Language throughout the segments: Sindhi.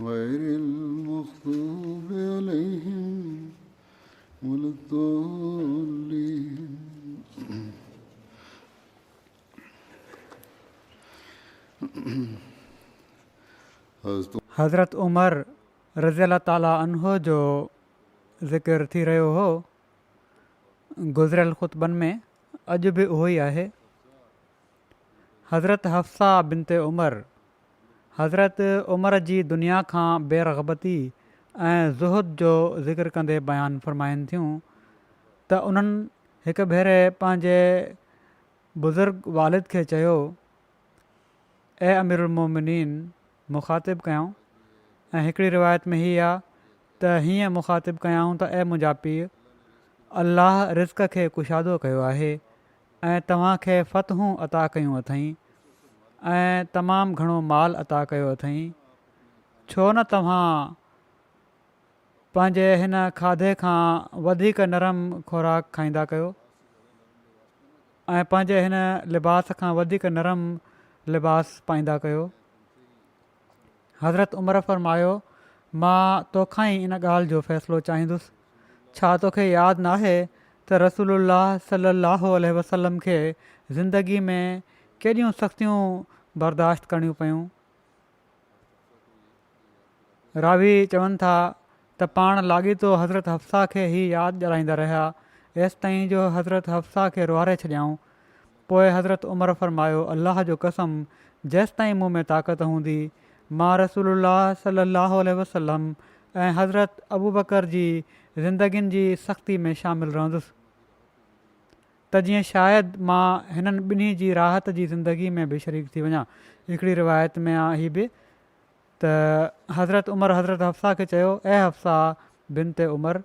غير المغضوب عليهم ولا الضالين حضرت عمر رضي الله تعالٰي عنه جو ذڪر ٿي رهيو هو گذريل خطبن ۾ اڄ به اهو ئي آهي حضرت حفصه بنت عمر، حضرت عمر جي دنيا کان بي رغبتي ۽ زهد جو ذڪر ڪندي بيان فرمائين ٿيون ته انهن هڪ ڀيري پنهنجي بزرگ والد کي چيو اي اميرالمومنين مخاطب ڪيائون ۽ هڪڙي روايت ۾ هي آ ته هيئن مخاطب ڪيائون ته اي منهنجا پيء الله رزق کي ڪشادو ڪيو آهي ۽ توهان کي فتحون عطا ڪيون اٿئين ۽ تمام گهڻو مال عطا ڪيو اٿئين، ڇو نه توهان پنهنجي هن کاڌي کان وڌيڪ نرم خوراڪ کائيندا ڪيو ۽ پنهنجي هن لباس کان وڌيڪ نرم لباس پائيندا ڪيو. حضرت عمر فرمايو، مان توکان ئي ان ڳالهه جو فيصلو چاهيندس، ڇا توکي ياد ناهي ته رسول الله صلي الله عليه وسلم کي زندگي ۾ ڪيڏيون سختيون برداشت ڪرڻيون پيون؟ راوي چون ٿا ته پاڻ لاڳيتو حضرت حفصه کي هي ياد ڏيارائيندا رهيا ايستائين جو حضرت حفصه کي روئاري ڇڏيائون. پوء حضرت عمر فرمايو الله جو قسم جيستائين مون ۾ طاقت هوندي مان رسول الله صلي الله عليه وسلم ۽ حضرت ابوبڪر جي زندگين جي سختي ۾ شامل رهندس ته جيئن شايد مان هنن ٻنهي جي راحت جي زندگي ۾ به شريڪ ٿي وڃان هڪڙي روايت ۾ هي به ته حضرت عمر حضرت حفصه کي چيو، اي حفصه بنت عمر!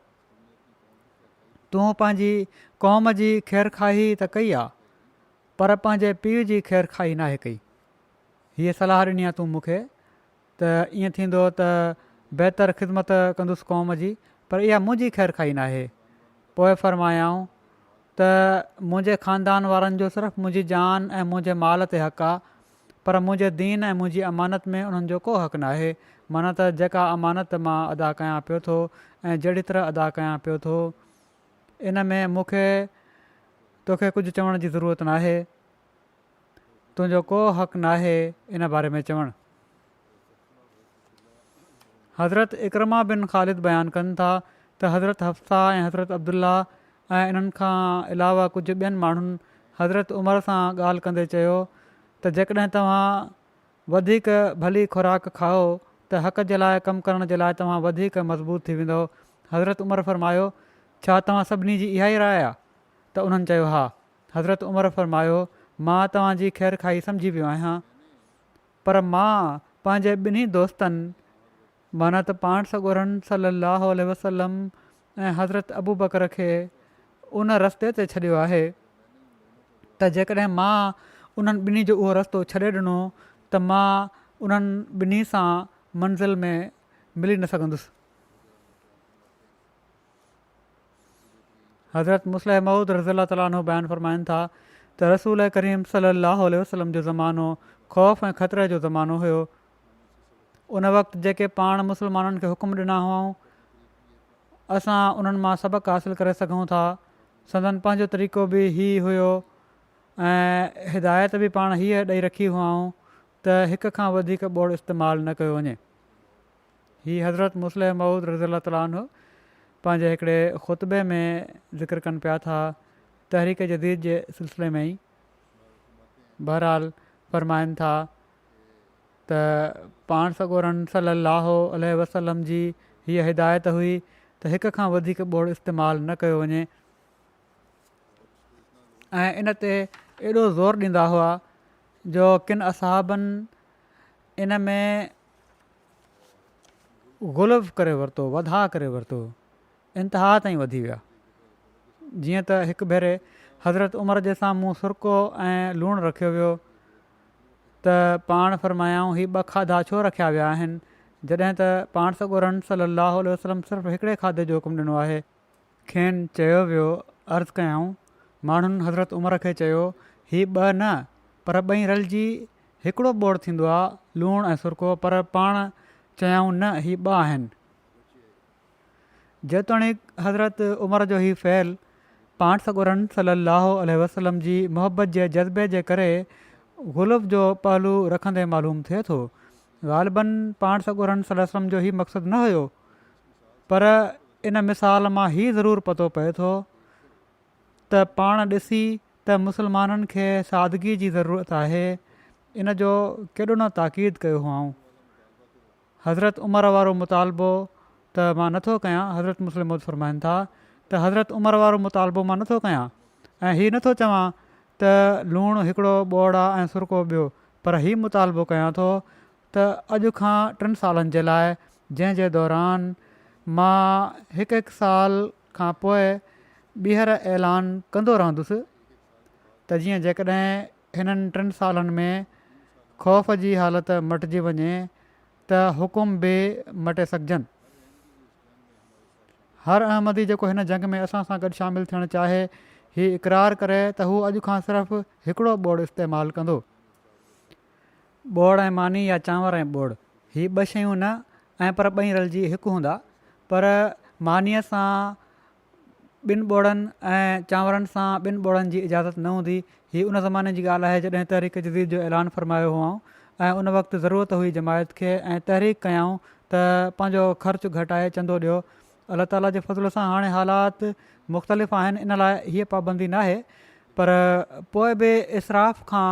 تون پنهنجي قوم جي خيرخواهي ته ڪئي آ، پر پنهنجي پيء جي خيرخواهي ناهي ڪئي. هيء صلاح ڏني آ تون مون کي ته ائين ٿيندو ته بهتر خدمت ڪندس قوم جي، پر اها منهنجي خيرخواهي ناهي. پوء فرمايائون ته منهنجي خاندان وارن جو صرف منهنجي جان ۽ منهنجي مال تي حق آ، پر منهنجي دين ۽ منهنجي امانت ۾ انهن جو ڪو حق ناهي، معنيٰ ته جيڪا امانت مان ادا ڪيان پيو ٿو ۽ جهڙي طرح ادا ڪيان پيو ٿو، ان ۾ مون کي توکي ڪجهه چوڻ جي ضرورت ناهي، تنهنجو ڪو حق ناهي ان باري ۾ چوڻ. حضرت عڪرمه بن خالد بيان ڪن ٿا ته حضرت حفصه ۽ حضرت عبدالله ۽ انهن کان علاوه ڪجهه ٻين ماڻهن حضرت عمر سان ڳالهه ڪندي چيو ته جيڪڏهن توهان وڌيڪ ڀلي خوراڪ کائو ته حق جي لاء ڪم ڪرڻ جي لاء توهان وڌيڪ مضبوط ٿي ويندؤ حضرت عمر فرمايو ڇا توهان سڀني جي اها ئي راء آهي ته انهن چيو ها حضرت عمر فرمايو مان توهان جي خيرخواهي سمجهي ويو آهيان پر مان پنهنجي ٻنهي دوستن معنيٰ ته پاڻ سڳورن صلّي اللّٰه عليه وسلّم ۽ حضرت ابوبڪر کي ان رستي تي ڇڏيو آهي ته جيڪڏهن مان انهن ٻنهي جو اهو رستو ڇڏي ڏنو ته مان انهن ٻنهي سان منزل ۾ ملي نه سگهندس. حضرت مصلح موعود رضي الله تعالٰي عنه بيان فرمائن ٿا ته رسول ڪريم صلّي اللّٰه عليه وسلّم جو زمانو خوف ۽ خطري جو زمانو هيو. ان وقت جيڪي پاڻ مسلمانن کي حڪم ڏنا هئائون اسان انهن مان سبق حاصل ڪري سگهون ٿا. سندن پنهنجو طريقو به هي هيو ۽ هدايت به پاڻ هيء ڏئي رکي هئائون ته هڪ کان وڌيڪ ٻوڙ استعمال نه ڪيو وڃي. هي حضرت مصلح موعود رضي الله تعالٰي عنه پنهنجي هڪڙي خطبي ۾ ذڪر ڪن پيا ٿا تحريڪ جديد جي سلسلي ۾ ئي بهرحال فرمائن ٿا ته پاڻ سڳورن صلي الله عليه وسلم جي هيء هدايت هئي ته هڪ کان وڌيڪ ٻوڙ استعمال نه ڪيو وڃي ۽ ان تي ايڏو زور ڏيندا هئا جو ڪن اصحابن ان ۾ غلف ڪري ورتو وڌاء ڪري ورتو انتها تائين وڌي ويا جيئن ته هڪ ڀيري حضرت عمر جي سامهون سرڪو ۽ لوڻ رکيو ويو ته پاڻ فرمايائون هي ٻه کاڌا ڇو رکيا ويا آهن جڏهن ته پاڻ سڳورن صلي الله عليه وسلم صرف هڪڙي کاڌي جو حڪم ڏنو آهي کين چيو ويو، عرض ڪيائون، ماڻهن حضرت عمر کي چيو، هي ٻه نه، پر ٻئي رلجي هڪڙو ٻوڙ ٿيندو آ، لوڻ ۽ سرڪو، پر پاڻ چيائون نه، هي ٻه آهن. جيتوڻيڪ حضرت عمر جو هي فعل پاڻ سڳورن صلّي اللّٰه عليه وسلّم جي محبّت جي جذبي جي ڪري غلف جو پهلو رکندي معلوم ٿئي ٿو. غالباً پاڻ سڳورن صلّي اللّٰه عليه وسلّم جو هي مقصد نه هيو، پر ان مثال مان هي ضرور پتو پئي ٿو ته پاڻ ڏسي ته مسلمانن کي سادگي جي ضرورت آهي ان جو ڪيڏو نه تاڪيد ڪيو هئائون حضرت عمر وارو مطالبو ته مان نٿو ڪيان حضرت مسلم مود فرمائن ٿا ته حضرت عمر وارو مطالبو مان نٿو ڪيان ۽ هي نٿو چوان ته لوڻ هڪڙو ٻوڙا ۽ سرڪو ٻيو پر هي مطالبو ڪيان ٿو ته اڄ کان ٽن سالن جي لاء جنهن جي دوران مان هڪ هڪ سال کان پوء ٻيهر اعلان ڪندو رهندس ته جيئن جيڪڏهن هنن ٽن سالن ۾ خوف جي حالت مٽجي وڃي ته حڪم به مٽي سگهجن. هر احمدي جيڪو هن جنگ ۾ اسان سان گڏ شامل ٿيڻ چاهي هي اقرار ڪري ته هو اڄ کان صرف هڪڙو ٻوڙ استعمال ڪندو. ٻوڙ ۽ ماني يا چانور ۽ ٻوڙ هي ٻه شيون نه ۽ پر ٻئي رلجي هڪ هوندا پر مانيء سان ٻن ٻوڙن ۽ چانورن سان ٻن ٻوڙن جي اجازت نه هوندي هي ان زماني جي ڳالهه آهي جڏهن تحريڪ جديد جو اعلان فرمايو هئائون ۽ ان وقت ضرورت هئي جماعت کي ۽ تحريڪ ڪيائون ته پنهنجو خرچ گهٽائي چندو ڏيو الله تعاليٰ جي فضل سان هاڻي حالات مختلف آهن ان لاء هيء پابندي ناهي پر پوء به اسراف کان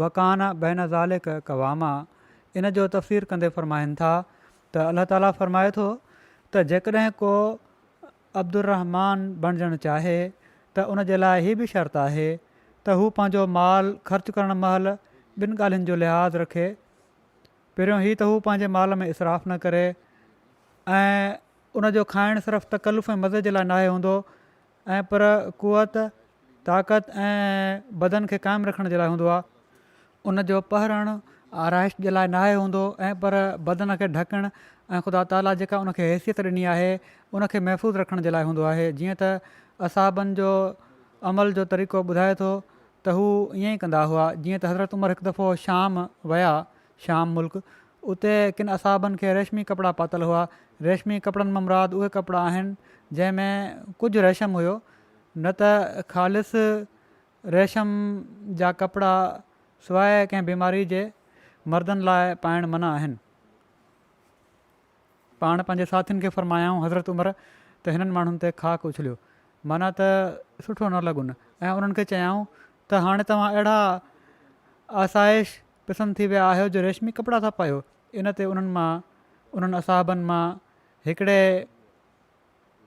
وڪان بين ذلک قواما ان جو تفسير ڪندي فرمائن ٿا ته الله تعاليٰ فرمائي ٿو ته جيڪڏهن ڪو عبدالرحمان بڻجڻ چاهي ته ان جي لاء هي به شرط آهي ته هو پنهنجو مال خرچ ڪرڻ مهل ٻن ڳالهين جو لحاظ رکي پهريون هي ته هو پنهنجي مال ۾ اصراف نه ڪري ۽ ان جو کائڻ صرف تڪلف ۽ مزي جي لاء ناهي هوندو ۽ پر قوت، طاقت ۽ بدن کي قائم رکڻ جي لاء هوندو آهي. ان جو پهرڻ آرائش جي لاء ناهي هوندو ۽ پر بدن کي ڍڪڻ ۽ خدا تعاليٰ جيڪا ان کي حيثيت ڏني آهي ان کي محفوظ رکڻ جي لاء هوندو آهي جيئن ته اصحابن جو عمل جو طريقو ٻڌائي ٿو ته هو ائين ئي ڪندا هئا جيئن ته حضرت عمر هڪ دفعو شام ويا شام ملڪ، اتي ڪن اصحابن کي ريشمي ڪپڙا پاتل هئا. ريشمي ڪپڙن مان مراد اهي ڪپڙا آهن جنهن ۾ ڪجهه ريشم هيو، نه ته خالص ريشم جا ڪپڙا سواء ڪنهن بيماري جي مردن لاء پائڻ منع آهن. پاڻ پنهنجي ساٿين کي فرمايائون، حضرت عمر، ته هنن ماڻهن تي خاڪ اڇليو، معنيٰ ته سٺو نه لڳن ۽ انهن کي چيائون ته هاڻي توهان اهڙا آسائش پسند ٿي ويا آهيو جو ريشمي ڪپڙا ٿا پايو ان تي انهن مان انهن اصحابن مان هڪڙي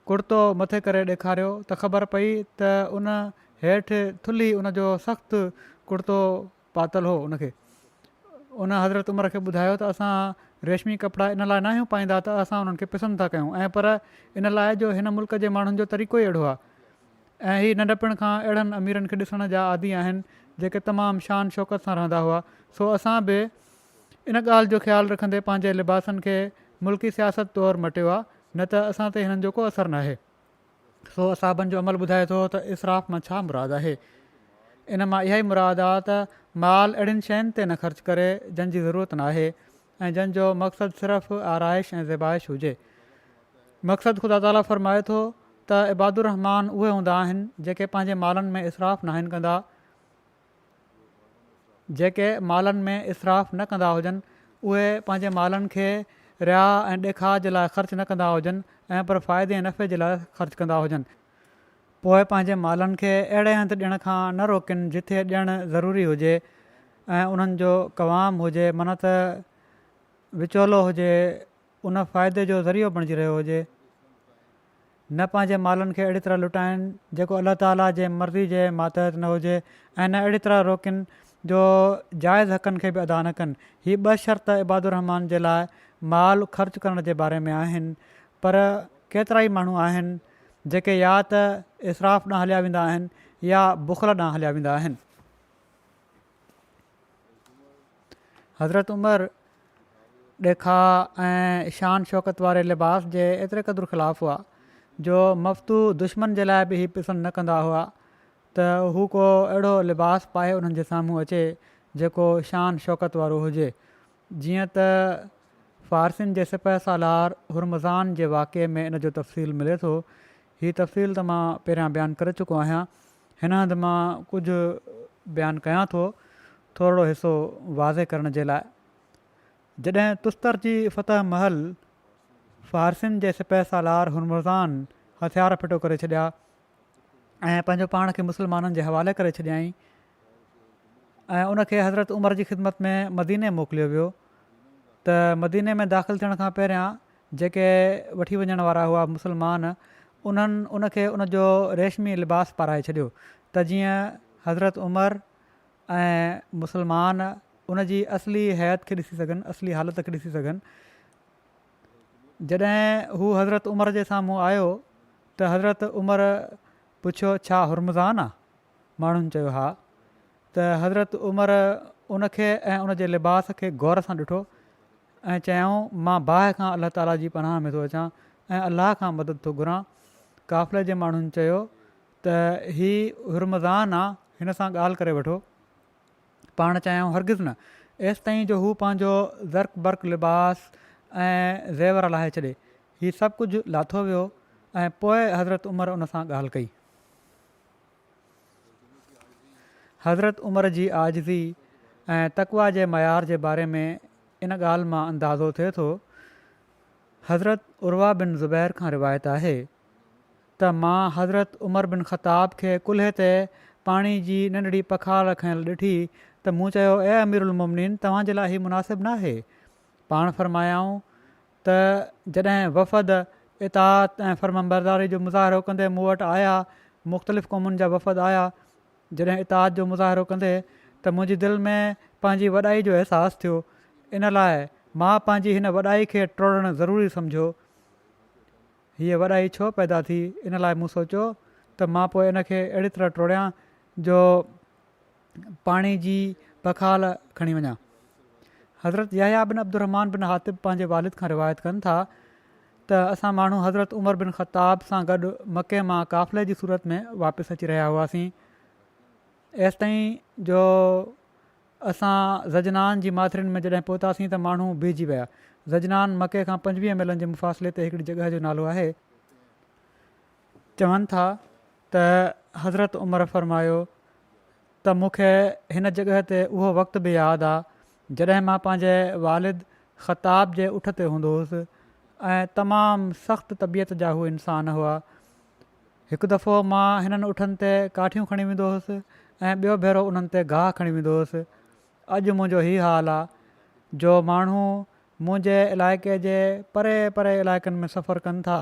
ڪڙتو مٿي ڪري ڏيکاريو ته خبر پئي ته ان هيٺ ٿلهي ان جو سخت ڪڙتو پاتل هو ان کي ان حضرت عمر کي ٻڌايو ته اسان ريشمي ڪپڙا ان لاء ناهيون پائيندا ته اسان انهن کي پسند ٿا ڪيون ۽ پر ان لاء جو هن ملڪ جي ماڻهن جو طريقو ئي اهڙو آهي ۽ هي ننڍپڻ کان اهڙن اميرن کي ڏسڻ جا عادي آهن جيڪي تمام شان شوڪت سان رهندا هئا سو اسان به ان ڳالهه جو خيال رکندي پنهنجي لباسن کي ملڪي سياست طور مٽيو آ نه ته اسان تي هنن جو ڪو اثر ناهي. سو اصحابن جو عمل ٻڌائي ٿو ته اسراف مان ڇا مراد آهي؟ ان مان اها ئي مراد آ ته مال اهڙين شين تي نه خرچ ڪري جن جي ضرورت ناهي ۽ جن جو مقصد صرف آرائش ۽ زيبائش هجي مقصد خدا تعالي فرمائي ٿو ته عباد الرحمان اهي هوندا آهن جيڪي پنهنجي مالن ۾ اسراف ناهن ڪندا جيڪي مالن ۾ اسراف نه ڪندا هجن اهي پنهنجي مالن کي رياء ۽ ڏيکاء جي لاء خرچ نه ڪندا هجن ۽ پر فائدي ۽ نفعي جي لاء خرچ ڪندا هجن پوء پنهنجي مالن کي اهڙي هنڌ ڏيڻ کان نه روڪين جتي ڏيڻ ضروري هجي ۽ انهن جو قوام هجي من ته وچولو هجي ان فائدي جو ذريعو بڻجي رهيو هجي نه پنهنجي مالن کي اهڙي طرح لٽائين جيڪو الله تعاليٰ جي مرضي جي ماتحت نه هجي ۽ نه اهڙي طرح روڪين جو جائز حقن کي به ادا نه ڪن هي ٻه شرط عباد الرحمان جي لاء مال خرچ ڪرڻ جي باري ۾ آهن پر ڪيترائي ماڻهو آهن جيڪي يا ته اسراف ڏانهن هليا ويندا آهن يا بخل ڏانهن هليا ويندا آهن. حضرت عمر ڏيکاء ۽ شان شوڪت واري لباس جي ايتري قدر خلاف هئا جو مفتو دشمن جي لاء به هي پسند نه ڪندا هئا ته هو ڪو اهڙو لباس پائي انهن جي سامهون اچي جيڪو شان شوڪت وارو هجي جيئن ته فارسين جي سپهه سالار هرمزان جي واقعي ۾ ان جو تفصيل ملي ٿو. هي تفصيل ته مان پهريان بيان ڪري چڪو آهيان. هن هنڌ مان ڪجهه بيان ڪيان ٿو، ٿورڙو حصو واضح ڪرڻ جي لاء. جڏهن تستر جي فتح مهل فارسين جي سپهه سالار هرمزان هٿيار ڦٽو ڪري ڇڏيا ۽ پنهنجو پاڻ کي مسلمانن جي حوالي ڪري ڇڏيائين ۽ ان کي حضرت عمر جي خدمت ۾ مديني موڪليو ويو ته مديني ۾ داخل ٿيڻ کان پهريان جيڪي وٺي وڃڻ وارا هئا مسلمان انهن ان کي ان جو ريشمي لباس پارائي ڇڏيو ته جيئن حضرت عمر ۽ مسلمان ان جي اصلي حيت کي ڏسي سگهن اصلي حالت کي ڏسي سگهن جڏهن هو حضرت عمر جي سامهون آيو ته حضرت عمر پڇيو ڇا هرمزان آ؟ ماڻهن چيو ها ته حضرت عمر ان کي ۽ ان جي لباس کي غور سان ڏٺو ۽ چيائون مان باهه کان الله تعالي جي پناهه ۾ ٿو اچان ۽ الله کان مدد ٿو گهران قافلي جي ماڻهن چيو ته هي هرمزان آ هن سان ڳالهه ڪري وٺو پاڻ چيائون هرگز نه، ايستائين جو هو پنهنجو زرق برق لباس ۽ زيور لاهي ڇڏي. هي سڀ ڪجهه لاٿو ويو ۽ پوء حضرت عمر ان سان ڳالهه ڪئي. حضرت عمر جي عاجزي ۽ تقويٰ جي معيار جي باري ۾ ان ڳالهه مان اندازو ٿئي ٿو، حضرت عروه بن زبير کان روايت آهي، ته مان حضرت عمر بن خطاب کي ڪلهي تي پاڻي جي ننڍڙي پکار رکنيل ڏٺي ته مون چيو اي امير المومنين توهان جي لاء هي مناسب ناهي. پاڻ فرمايائون ته جڏهن وفد اطاعت ۽ فرمانبرداري جو مظاهرو ڪندي مون وٽ آيا، مختلف قومن جا وفد آيا، جڏهن اطاعت جو مظاهرو ڪندي ته منهنجي دل ۾ پنهنجي وڏائي جو احساس ٿيو، ان لاء مان پنهنجي هن وڏائي کي ٽوڙڻ ضروري سمجهيو. هيء وڏائي ڇو پيدا ٿي؟ ان لاء مون سوچيو ته مان پوء ان کي اهڙي طرح ٽوڙيان جو پاڻي جي پکال کڻي وڃان. حضرت يحيٰ بن عبدالرحمان بن حاطب پنهنجي والد کان روايت ڪن ٿا ته اسان ماڻهو حضرت عمر بن خطاب سان گڏ مڪي مان قافلي جي صورت ۾ واپس اچي رهيا هئاسين ايستائين جو اسان زجنان جي ماٿرين ۾ جڏهن پهتاسين ته ماڻهو بيهجي ويا. زجنان مڪي کان پنجويهه ميلن جي مفاصلي تي هڪڙي جڳهه جو نالو آهي. چون ٿا ته حضرت عمر فرمايو ته مون کي هن جڳهه تي اهو وقت به ياد آ جڏهن مان پنهنجي والد خطاب جي اٺ تي هوندو هوس ۽ تمام سخت طبيعت جا هو انسان هئا هڪ دفعو مان هنن اٺن تي ڪاٺيون کڻي ويندو هوس ۽ ٻيو ڀيرو انهن تي گاهه کڻي ويندو هوس اڄ منهنجو هي حال آ جو ماڻهو منهنجي علائقي جي پري پري علائقن ۾ سفر ڪن ٿا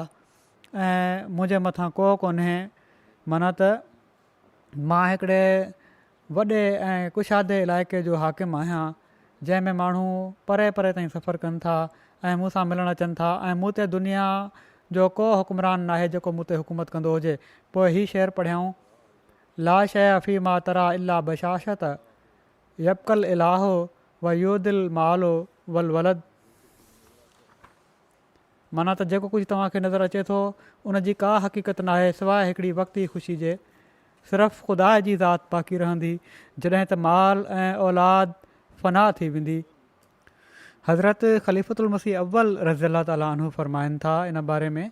۽ منهنجي مٿان ڪوهه ڪونهي منا ته مان هڪڙي وڏي ۽ ڪشادي علائقي جو حاڪم آهيان جنهن ۾ ماڻهو پري پري تائين سفر ڪن ٿا ۽ مون سان ملڻ اچن ٿا ۽ مون تي دنيا جو ڪو حڪمران ناهي جيڪو مون تي حڪومت ڪندو هجي پوء هي شعر پڙهيائون لا شيء في ما ترا الا بشاشت يبقى الاله ويود المال والولد معنيٰ ته جيڪو ڪجهه توهان کي نظر اچي ٿو، ان جي ڪا حقيقت ناهي سواء هڪڙي وقتي خوشي جي. صرف خدا جي ذات باقي رهندي، جڏهن ته مال ۽ اولاد فنا ٿي ويندي. حضرت خليفة المسيح اول رضي الله تعالٰي عنه فرمائن ٿا ان باري ۾،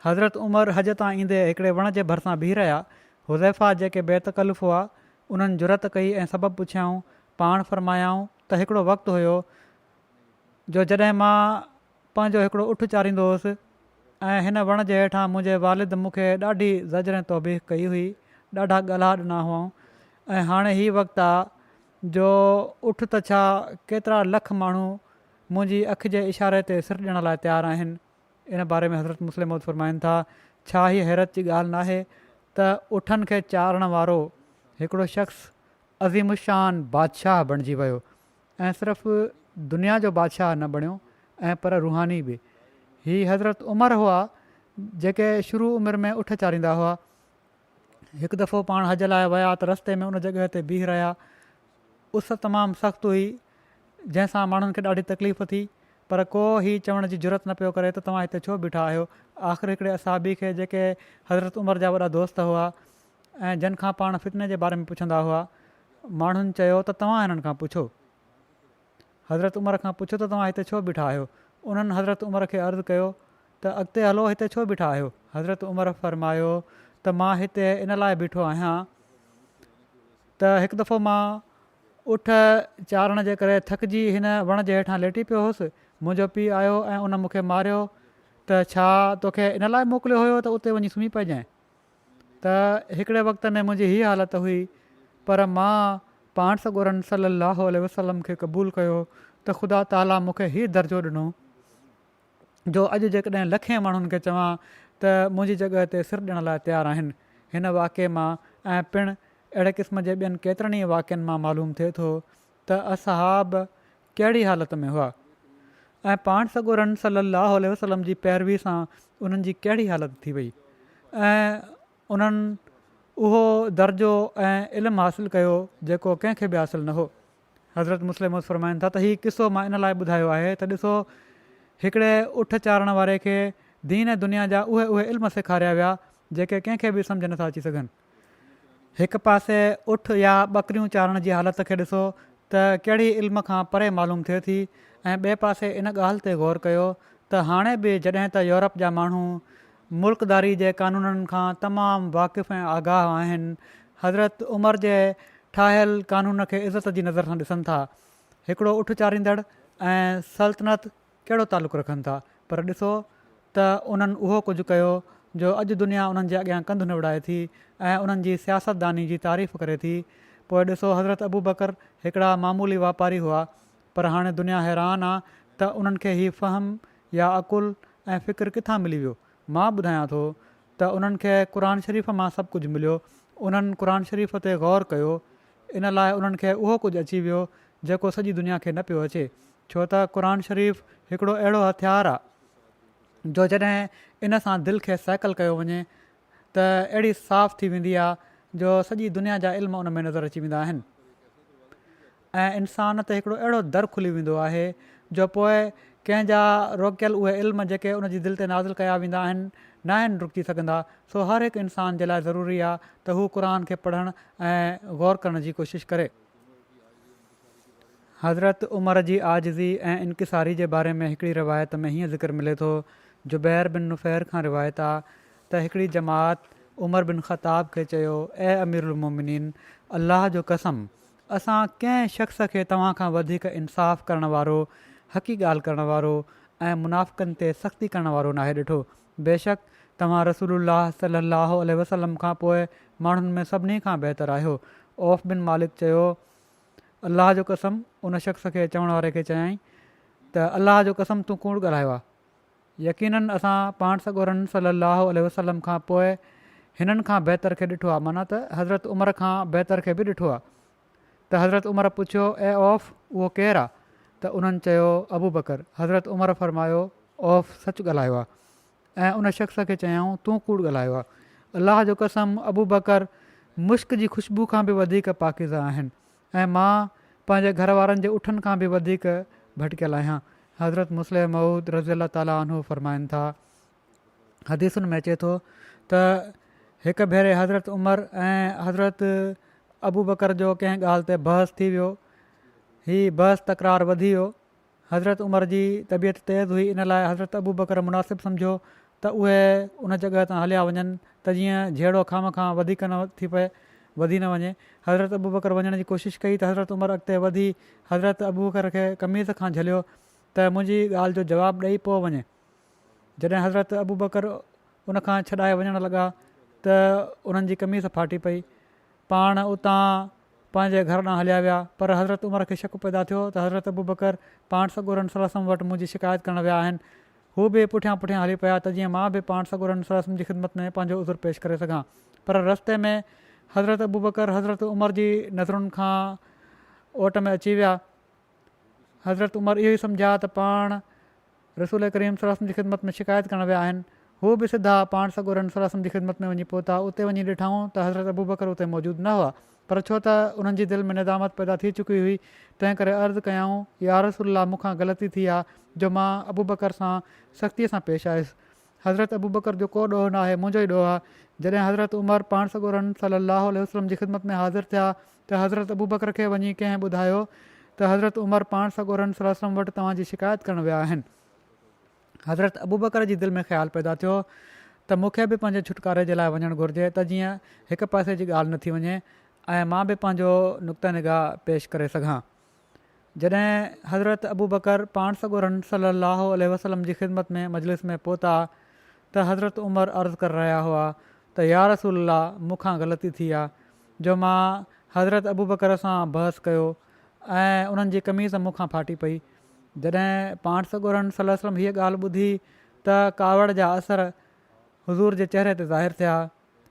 حضرت عمر حج تان ايندي هڪڙي وڻ جي ڀرسان بيهي رهيا، حذيفه جيڪي بي تڪلف هئا، انهن جرئت ڪئي ۽ سبب پڇيائون، پاڻ فرمايائون ته هڪڙو وقت هيو جو جڏهن مان. پنهنجو هڪڙو اٺ چاريندو هوس ۽ هن وڻ جي هيٺان منهنجي والد مون کي ڏاڍي زجر ۽ توبيخ ڪئي هئي، ڏاڍا ڳالها ڏنا هئائون ۽ هاڻي هي وقت آ جو اٺ ته ڇا ڪيترا لک ماڻهو منهنجي اک جي اشاري تي سر ڏيڻ لاء تيار آهن. ان باري ۾ حضرت مسلم موعود فرمائن ٿا، ڇا هيء حيرت جي ڳالهه ناهي ته اٺن کي چارڻ وارو هڪڙو شخص عظيم الشان بادشاهه بڻجي ويو. ۽ صرف دنيا جو بادشاهه نه بڻيو ۽ پر روحاني به. هي حضرت عمر هئا جيڪي شروع عمر ۾ اٺ چاريندا هئا. هڪ دفعو پاڻ حج لاء ويا ته رستي ۾ ان جڳهه تي بيهي رهيا. اس تمام سخت هئي جنهن سان ماڻهن کي ڏاڍي تڪليف ٿي پر ڪو هي چوڻ جي جرئت نه پيو ڪري ته توهان هتي ڇو بيٺا آهيو. آخر هڪڙي اصحابي کي جيڪي حضرت عمر جا وڏا دوست هئا ۽ جن کان پاڻ فتني جي باري ۾ پڇندا هئا، ماڻهن چيو ته توهان هنن کان پڇو، حضرت عمر کان پڇو ته توهان هتي ڇو بيٺا آهيو؟ انهن حضرت عمر کي عرض ڪيو ته اڳتي هلو هتي ڇو بيٺا آهيو؟ حضرت عمر فرمايو ته مان هتي ان لاء بيٺو آهيان ته هڪ دفعو مان اٺ چارڻ جي ڪري ٿڪجي هن وڻ جي هيٺان ليٽي پيو هوس، منهنجو پيء آيو ۽ ان مون کي ماريو ته ڇا توکي ان لاء موڪليو هيو ته اتي وڃي سمهي پئجانء؟ ته هڪڙي وقت ۾ منهنجي هي حالت هئي پر مان پاڻ سڳورن صلّي اللّٰه عليه وسلّم کي قبول ڪيو ته خدا تعاليٰ مون کي هي درجو ڏنو جو اڄ جيڪڏهن لکين ماڻهن کي چوان ته منهنجي جڳهه تي سر ڏيڻ لاء تيار آهن هن واقعي مان ۽ پڻ اهڙي قسم جي ٻين ڪيترن ئي واقعن مان معلوم ٿئي ٿو ته اصحاب ڪهڙي حالت ۾ هئا ۽ پاڻ سڳورن صلّي اللّٰه عليه وسلّم جي پيروي سان انهن جي ڪهڙي حالت ٿي وئي ۽ انهن اهو درجو ۽ علم حاصل ڪيو جيڪو ڪنهن کي به حاصل نه هو حضرت مسلم موت فرمائن ٿا ته هي قصو مان ان لاء ٻڌايو آهي ته ڏسو هڪڙي اٺ چارڻ واري کي دين ۽ دنيا جا اهي اهي علم سيکاريا ويا جيڪي ڪنهن کي به سمجهه نٿا اچي سگهن. هڪ پاسي اٺ يا ٻڪريون چارڻ جي حالت کي ڏسو ته ڪهڙي علم کان پري معلوم ٿئي ٿي ۽ ٻئي پاسي ان ڳالهه تي غور ڪيو ته هاڻي به جڏهن ته يورپ جا ماڻهو ملڪداري جي قانونن کان تمام واقف ۽ آگاهه آهن حضرت عمر جي ٺاهيل قانون کي عزت جي نظر سان ڏسن ٿا هڪڙو اٺ چاريندڙ ۽ سلطنت ڪهڙو تعلق رکن ٿا پر ڏسو ته انهن اهو ڪجهه ڪيو جو اڄ دنيا انهن جي اڳيان ڪنڌ نوڙائي ٿي ۽ انهن جي سياستداني جي تعريف ڪري ٿي پوء ڏسو حضرت ابوبڪر هڪڙا معمولي واپاري هئا پر هاڻي دنيا حيران آ ته انهن کي هي فهم يا عقل ۽ فڪر ڪٿان ملي ويو مان ٻڌايان ٿو ته انهن کي قرآن شريف مان سڀ ڪجهه مليو انهن قرآن شريف تي غور ڪيو ان لاء انهن کي اهو ڪجهه اچي ويو جيڪو سڄي دنيا کي نه پيو اچي ڇو ته قرآن شريف هڪڙو اهڙو هٿيار آ جو جڏهن ان سان دل کي سيڪل ڪيو وڃي ته اهڙي صاف ٿي ويندي آ جو سڄي دنيا جا علم ان ۾ نظر اچي ويندا آهن ۽ انسان تي هڪڙو اهڙو در کلي ويندو آهي جو پوء ڪنهن جا روڪيل اهي علم جيڪي ان جي دل تي نازل ڪيا ويندا آهن ناهن رڪجي سگهندا سو هر هڪ انسان جي لاء ضروري آ ته هو قرآن کي پڙهڻ ۽ غور ڪرڻ جي ڪوشش ڪري. حضرت عمر جي عاجزي ۽ انڪساري جي باري ۾ هڪڙي روايت ۾ هيئن ذڪر ملي ٿو، جبير بن نفير کان روايت آ ته هڪڙي جماعت عمر بن خطاب کي چيو، اي امير المومنين! الله جو قسم! اسان ڪنهن شخص کي توهان کان وڌيڪ انصاف ڪرڻ وارو، حقي ڳالهه ڪرڻ وارو ۽ منافقن تي سختي ڪرڻ وارو ناهي ڏٺو. بيشڪ توهان رسول الله صلّي اللّٰه عليه وسلّم کان پوء ماڻهن ۾ سڀني کان بهتر آهيو. عوف بن مالڪ چيو، الله جو قسم ان شخص کي چوڻ واري کي چيائين ته الله جو قسم تون ڪوڙ ڳالهايو آ يقيناً اسان پاڻ سڳورن صلي الله عليه وسلم کان پوء هنن کان بهتر کي ڏٺو آ معنيٰ ته حضرت عمر کان بهتر کي به ڏٺو آ ته حضرت عمر پڇيو اي عوف اهو ڪير آ ته انهن چيو ابوبڪر حضرت عمر فرمايو عوف سچ ڳالهايو آ ۽ ان شخص کي چيائون، تون ڪوڙ ڳالهايو آهي. الله جو قسم ابوبڪر مسڪ جي خوشبو کان به وڌيڪ پاڪيزه آهن ۽ مان پنهنجي گهر وارن جي اٺن کان به وڌيڪ ڀٽڪيل آهيان. حضرت مصلح موعود رضي الله تعالٰي عنه فرمائن ٿا، حديثن ۾ اچي ٿو ته هڪ ڀيري حضرت عمر ۽ حضرت ابوبڪر جو ڪنهن ڳالهه تي بحث ٿي ويو. هي بحث تڪرار وڌي ويو. حضرت عمر جي طبيعت تيز هئي ان لاء حضرت ابوبڪر مناسب سمجهيو ته اهي ان جڳهه تان هليا وڃن ته جيئن جهيڙو کانو کان وڌيڪ نه ٿي پئي، وڌي نه وڃي. حضرت ابوبڪر وڃڻ جي ڪوشش ڪئي ته حضرت عمر اڳتي وڌي حضرت ابوبڪر کي قميص کان جهليو ته منهنجي ڳالهه جو جواب ڏئي پوء وڃ. جڏهن حضرت ابوبڪر ان کان ڇڏائي وڃڻ لڳا ته انهن جي قميص ڦاٽي پئي. پاڻ اتان پنهنجي گهر ڏانهن هليا ويا پر حضرت عمر کي شڪ پيدا ٿيو ته حضرت ابوبڪر پاڻ سڳورن صلعم وٽ منهنجي شڪايت ڪرڻ ويا آهن. هو به پٺيان پٺيان هلي پيا ته جيئن مان به پاڻ سڳورن صلعم جي خدمت ۾ پنهنجو عذر پيش ڪري سگهان پر رستي ۾ حضرت ابوبڪر حضرت عمر جي نظرن کان اوٽ ۾ اچي ويا حضرت عمر اهو ئي سمجهيا ته پاڻ رسول ڪريم صلي الله عليه وسلم جي خدمت ۾ شڪايت ڪرڻ ويا آهن. هو به سڌا پاڻ سڳورن صلي الله عليه وسلم جي خدمت ۾ وڃي پهتا. اتي وڃي ڏٺائون ته حضرت ابوبڪر اتي موجود نه هئا. پر ڇو ته انهن جي دل ۾ ندامت پيدا ٿي چڪي هئي، تنهن ڪري عرض ڪيائون، يا رسول الله مون کان غلطي ٿي آ جو مان ابوبڪر سان سختيء سان پيش آيس. حضرت ابوبڪر جو ڪو ڏوهه ناهي، منهنجو ئي ڏوهه آ. جڏهن حضرت عمر پاڻ سڳورن صلي الله عليه وسلم جي خدمت ۾ حاضر ٿيا ته حضرت ابوبڪر کي وڃي ڪنهن ٻڌايو ته حضرت عمر پاڻ سڳورن صلي وسلم وٽ توهان جي شڪايت ڪرڻ ويا آهن. حضرت ابوبڪر جي دل ۾ خيال پيدا ٿيو ته مون کي به پنهنجي ڇوٽڪاري جي لاء وڃڻ گهرجي ته جيئن هڪ پئسي جي ڳالهه نه ٿي وڃي ۽ مان به پنهنجو نقطه نگاهه پيش ڪري سگهان. جڏهن حضرت ابوبڪر پاڻ سڳورن صلّي اللّٰه عليه وسلّم جي خدمت ۾ مجلس ۾ پهتا ته حضرت عمر عرض ڪر رهيا هئا ته يا رسول الله مون کان غلطي ٿي آ جو مان حضرت ابوبڪر سان بحث ڪيو ۽ انهن جي قميص مون کان ڦاٽي پئي جڏهن پاڻ سڳورن صلّي وسلّم هيء ڳالهه ٻڌي ته ڪاوڙ جا اثر حضور جي چهري تي ظاهر ٿيا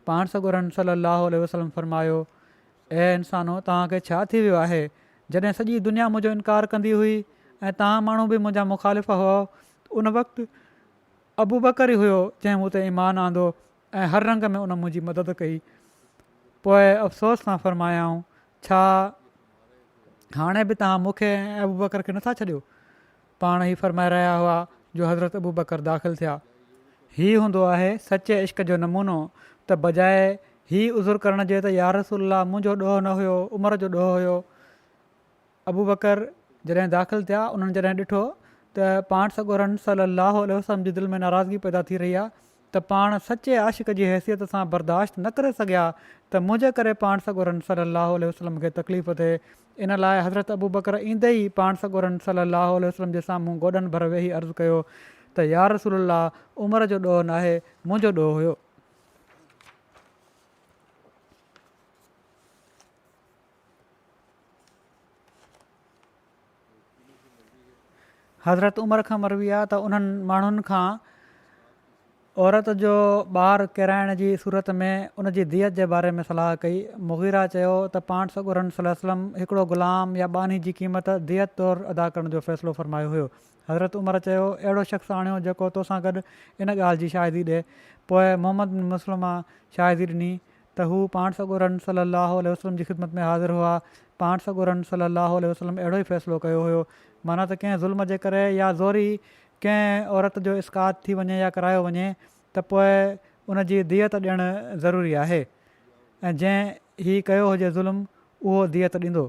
پاڻ سڳورن صلّي اللّٰه عليه وسلّم فرمايو، اي انسانو توهان کي ڇا ٿي ويو آهي؟ جڏهن سڄي دنيا منهنجو انڪار ڪندي هئي ۽ توهان ماڻهو به منهنجا مخالف هئا ته ان وقت ابوبڪر ئي هيو جنهن مون تي ايمان آندو ۽ هر رنگ ۾ ان منهنجي مدد ڪئي پوء افسوس سان فرمايائون ڇا هاڻي به توهان مون کي ۽ ابوبڪر کي نٿا ڇڏيو؟ پاڻ هي فرمائي رهيا هئا جو حضرت ابوبڪر داخل ٿيا. هي هوندو آهي سچي عشق جو نمونو ته بجاء هي عذر ڪرڻ جي ته يارسول الله منهنجو ڏوهه نه هيو عمر جو ڏوهه هيو ابوبڪر جڏهن داخل ٿيا انهن جڏهن ڏٺو ته پاڻ سڳورن صلي الله عليه وسلم جي دل ۾ ناراضگي پيدا ٿي رهي آهي ته پاڻ سچي عاشق جي حيثيت سان برداشت نه ڪري سگهيا ته منهنجي ڪري پاڻ سڳورن صلّي الله عليه وسلّم کي تڪليف ٿئي، ان لاء حضرت ابوبڪر ايندي ئي پاڻ سڳورن صلّي الله عليه وسلّم جي سامهون گوڏن ڀر ويهي عرض ڪيو ته يارسول الله عمر جو ڏوهه ناهي منهنجو ڏوهه هيو. حضرت عمر کان مروي آهي ته انهن ماڻهن کان عورت جو ٻار ڪيرائڻ جي صورت ۾ ان جي ديت جي باري ۾ صلاح ڪئي. مغيره چيو ته پاڻ سڳورن صلي وسلم هڪڙو غلام يا ٻانهي جي قيمت ديت طور ادا ڪرڻ جو فيصلو فرمايو هيو. حضرت عمر چيو اهڙو شخص آڻيو جيڪو توسان گڏ ان ڳالهه جي شاهدي ڏي. پوء محمد بن مسلمه شاهدي ڏني ته هو پاڻ سڳورن صلّي اللّٰه عليه وسلّم جي خدمت ۾ حاضر هئا، پاڻ سڳورن صلّي اللّٰه عليه وسلّم اهڙو ئي فيصلو ڪيو هيو، معنيٰ ته ڪنهن ظلم جي ڪري يا زوري ڪنهن عورت جو اسقاط ٿي وڃي يا ڪرايو وڃي ته پوء ان جي ديت ڏيڻ ضروري آهي ۽ جنهن هي ڪيو هجي ظلم اهو ديت ڏيندو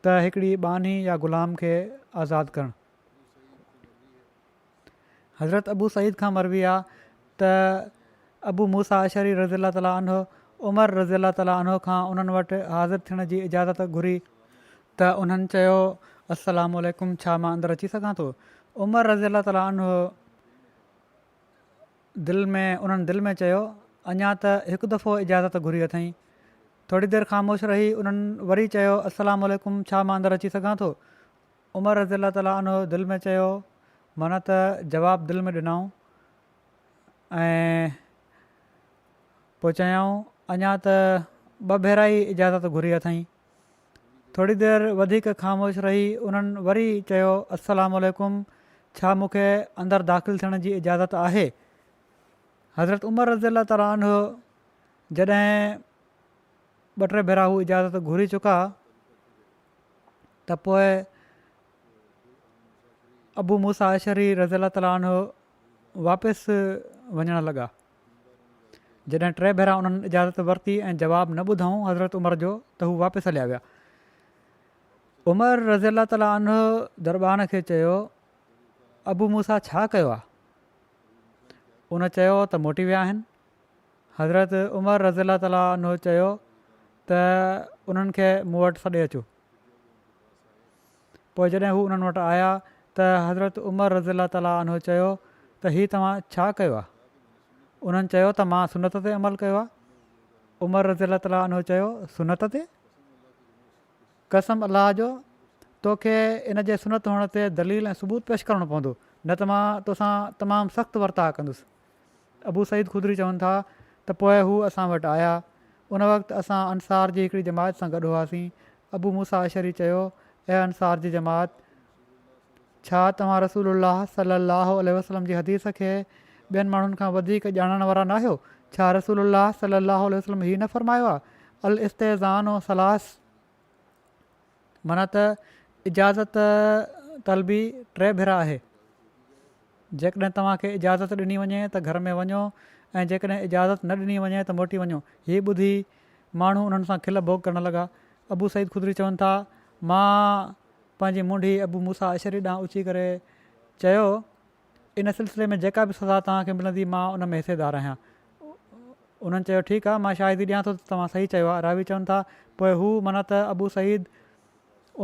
ته هڪڙي ٻانهي يا غلام کي آزاد ڪرڻ حضرت ابو سعيد کان مروي آ ته ابو موسيٰ اشعري رضي الله تعالٰي عنه عمر رضي الله تعالٰي عنه کان انهن وٽ حاضر ٿيڻ جي اجازت گهري، ته انهن چيو، السلام عليڪم ڇا مان اندر اچي سگهان ٿو؟ عمر رضي الله تعالٰي عنه دل ۾ انهن دل ۾ چيو، اڃا ته هڪ دفعو اجازت گهري اٿئين. ٿوري دير خاموش رهي انهن وري چيو، السلام عليڪم ڇا مان اندر اچي سگهان ٿو؟ عمر رضي الله تعالٰي عنه دل ۾ چيو معنيٰ ته جواب دل ۾ ڏنائون ۽ پوء چيائون اڃا ته ٻه ڀيرا ئي اجازت گهري اٿئين ٿوري دير وڌيڪ خاموش رهي انهن وري چيو السلام عليڪم ڇا مون کي اندر داخل ٿيڻ جي اجازت آهي حضرت عمر رضي الله تعالٰي عنه جڏهن ٻه ٽي ڀيرا هو اجازت گهري چڪا ته پوء ابو موسيٰ اشعري رضي الله تعالٰي عنه واپس وڃڻ لڳا. جڏهن ٽي ڀيرا انهن اجازت ورتي ۽ جواب نه ٻڌائون حضرت عمر جو ته هو واپس هليا ويا. عمر رضي الله تعالٰي عنه دربان کي چيو ابو موسيٰ ڇا ڪيو آهي؟ ان چيو ته موٽي ويا آهن. حضرت عمر رضي الله تعالٰي عنه چيو ته انهن کي مون وٽ سڏي اچو. پوء جڏهن هو انهن وٽ آيا ته حضرت عمر رضي الله تعالٰي عنه چيو ته هي توهان ڇا ڪيو آهي؟ انهن چيو ته مان سنت تي عمل ڪيو آهي. عمر رضي الله تعالٰي عنه چيو سنت تي؟ قسم الله جو تو کي ان جي سنت هئڻ تي دليل ۽ ثبوت پيش ڪرڻو پوندو نه ته مان تو سان تمام سخت ورتاء ڪندس. ابو سعيد خدري چون ٿا ته پوء هو اسان وٽ آيا. ان وقت اسان انصار جي هڪڙي جماعت سان گڏ هئاسين. ابو موسيٰ اشعري چيو، اي انصار جي جماعت! ڇا توهان رسول الله صلّي اللّٰه عليه وسلّم جي حديث کي ٻين ماڻهن کان وڌيڪ ڄاڻڻ وارا ناهيو؟ ڇا رسول الله صلّي اللّٰه عليه وسلّم هي نه فرمايو آهي، الاستئذان ثلاث! معنيٰ ته اجازت طلبي ٽي ڀيرا آهي، جيڪڏهن توهان کي اجازت ڏني وڃي ته گهر ۾ وڃو ۽ جيڪڏهن اجازت نه ڏني وڃي ته موٽي وڃو. هي ٻڌي ماڻهو انهن سان کل ڀوڳ ڪرڻ لڳا. ابو سعيد خدري چون ٿا، مان پنهنجي منڍي ابو موسيٰ اشعري ڏانهن اچي ڪري چيو، ان سلسلي ۾ جيڪا به سزا توهان کي ملندي مان ان ۾ حصيدار آهيان. انهن چيو ٺيڪ آهي مان شاهدي ڏيان ٿو ته توهان صحيح چيو آهي. راوي چون ٿا پوء هو معنيٰ ته ابو سعيد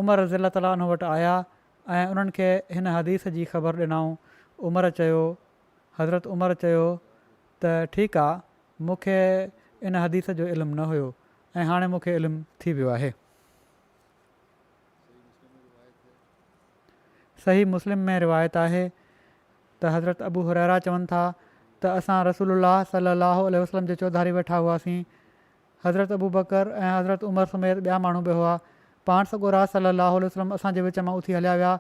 عمر رضي الله تعالٰي عنه وٽ آيا ۽ انهن کي هن حديث جي خبر ڏنائون. عمر چيو، حضرت عمر چيو ته ٺيڪ آهي مون کي ان حديث جو علم نه هيو ۽ هاڻي مون کي علم ٿي ويو آهي. صحيح مسلم ۾ روايت آهي ته حضرت ابو هريره چون ٿا ته اسان رسول الله صلي الله عليه وسلم جي چوڌاري ويٺا هئاسين حضرت ابو بڪر ۽ حضرت عمر سميت ٻيا ماڻهو به هئا پاڻ سڳو راز صلي الله عليه وسلم اسان جي وچ مان اٿي هليا ويا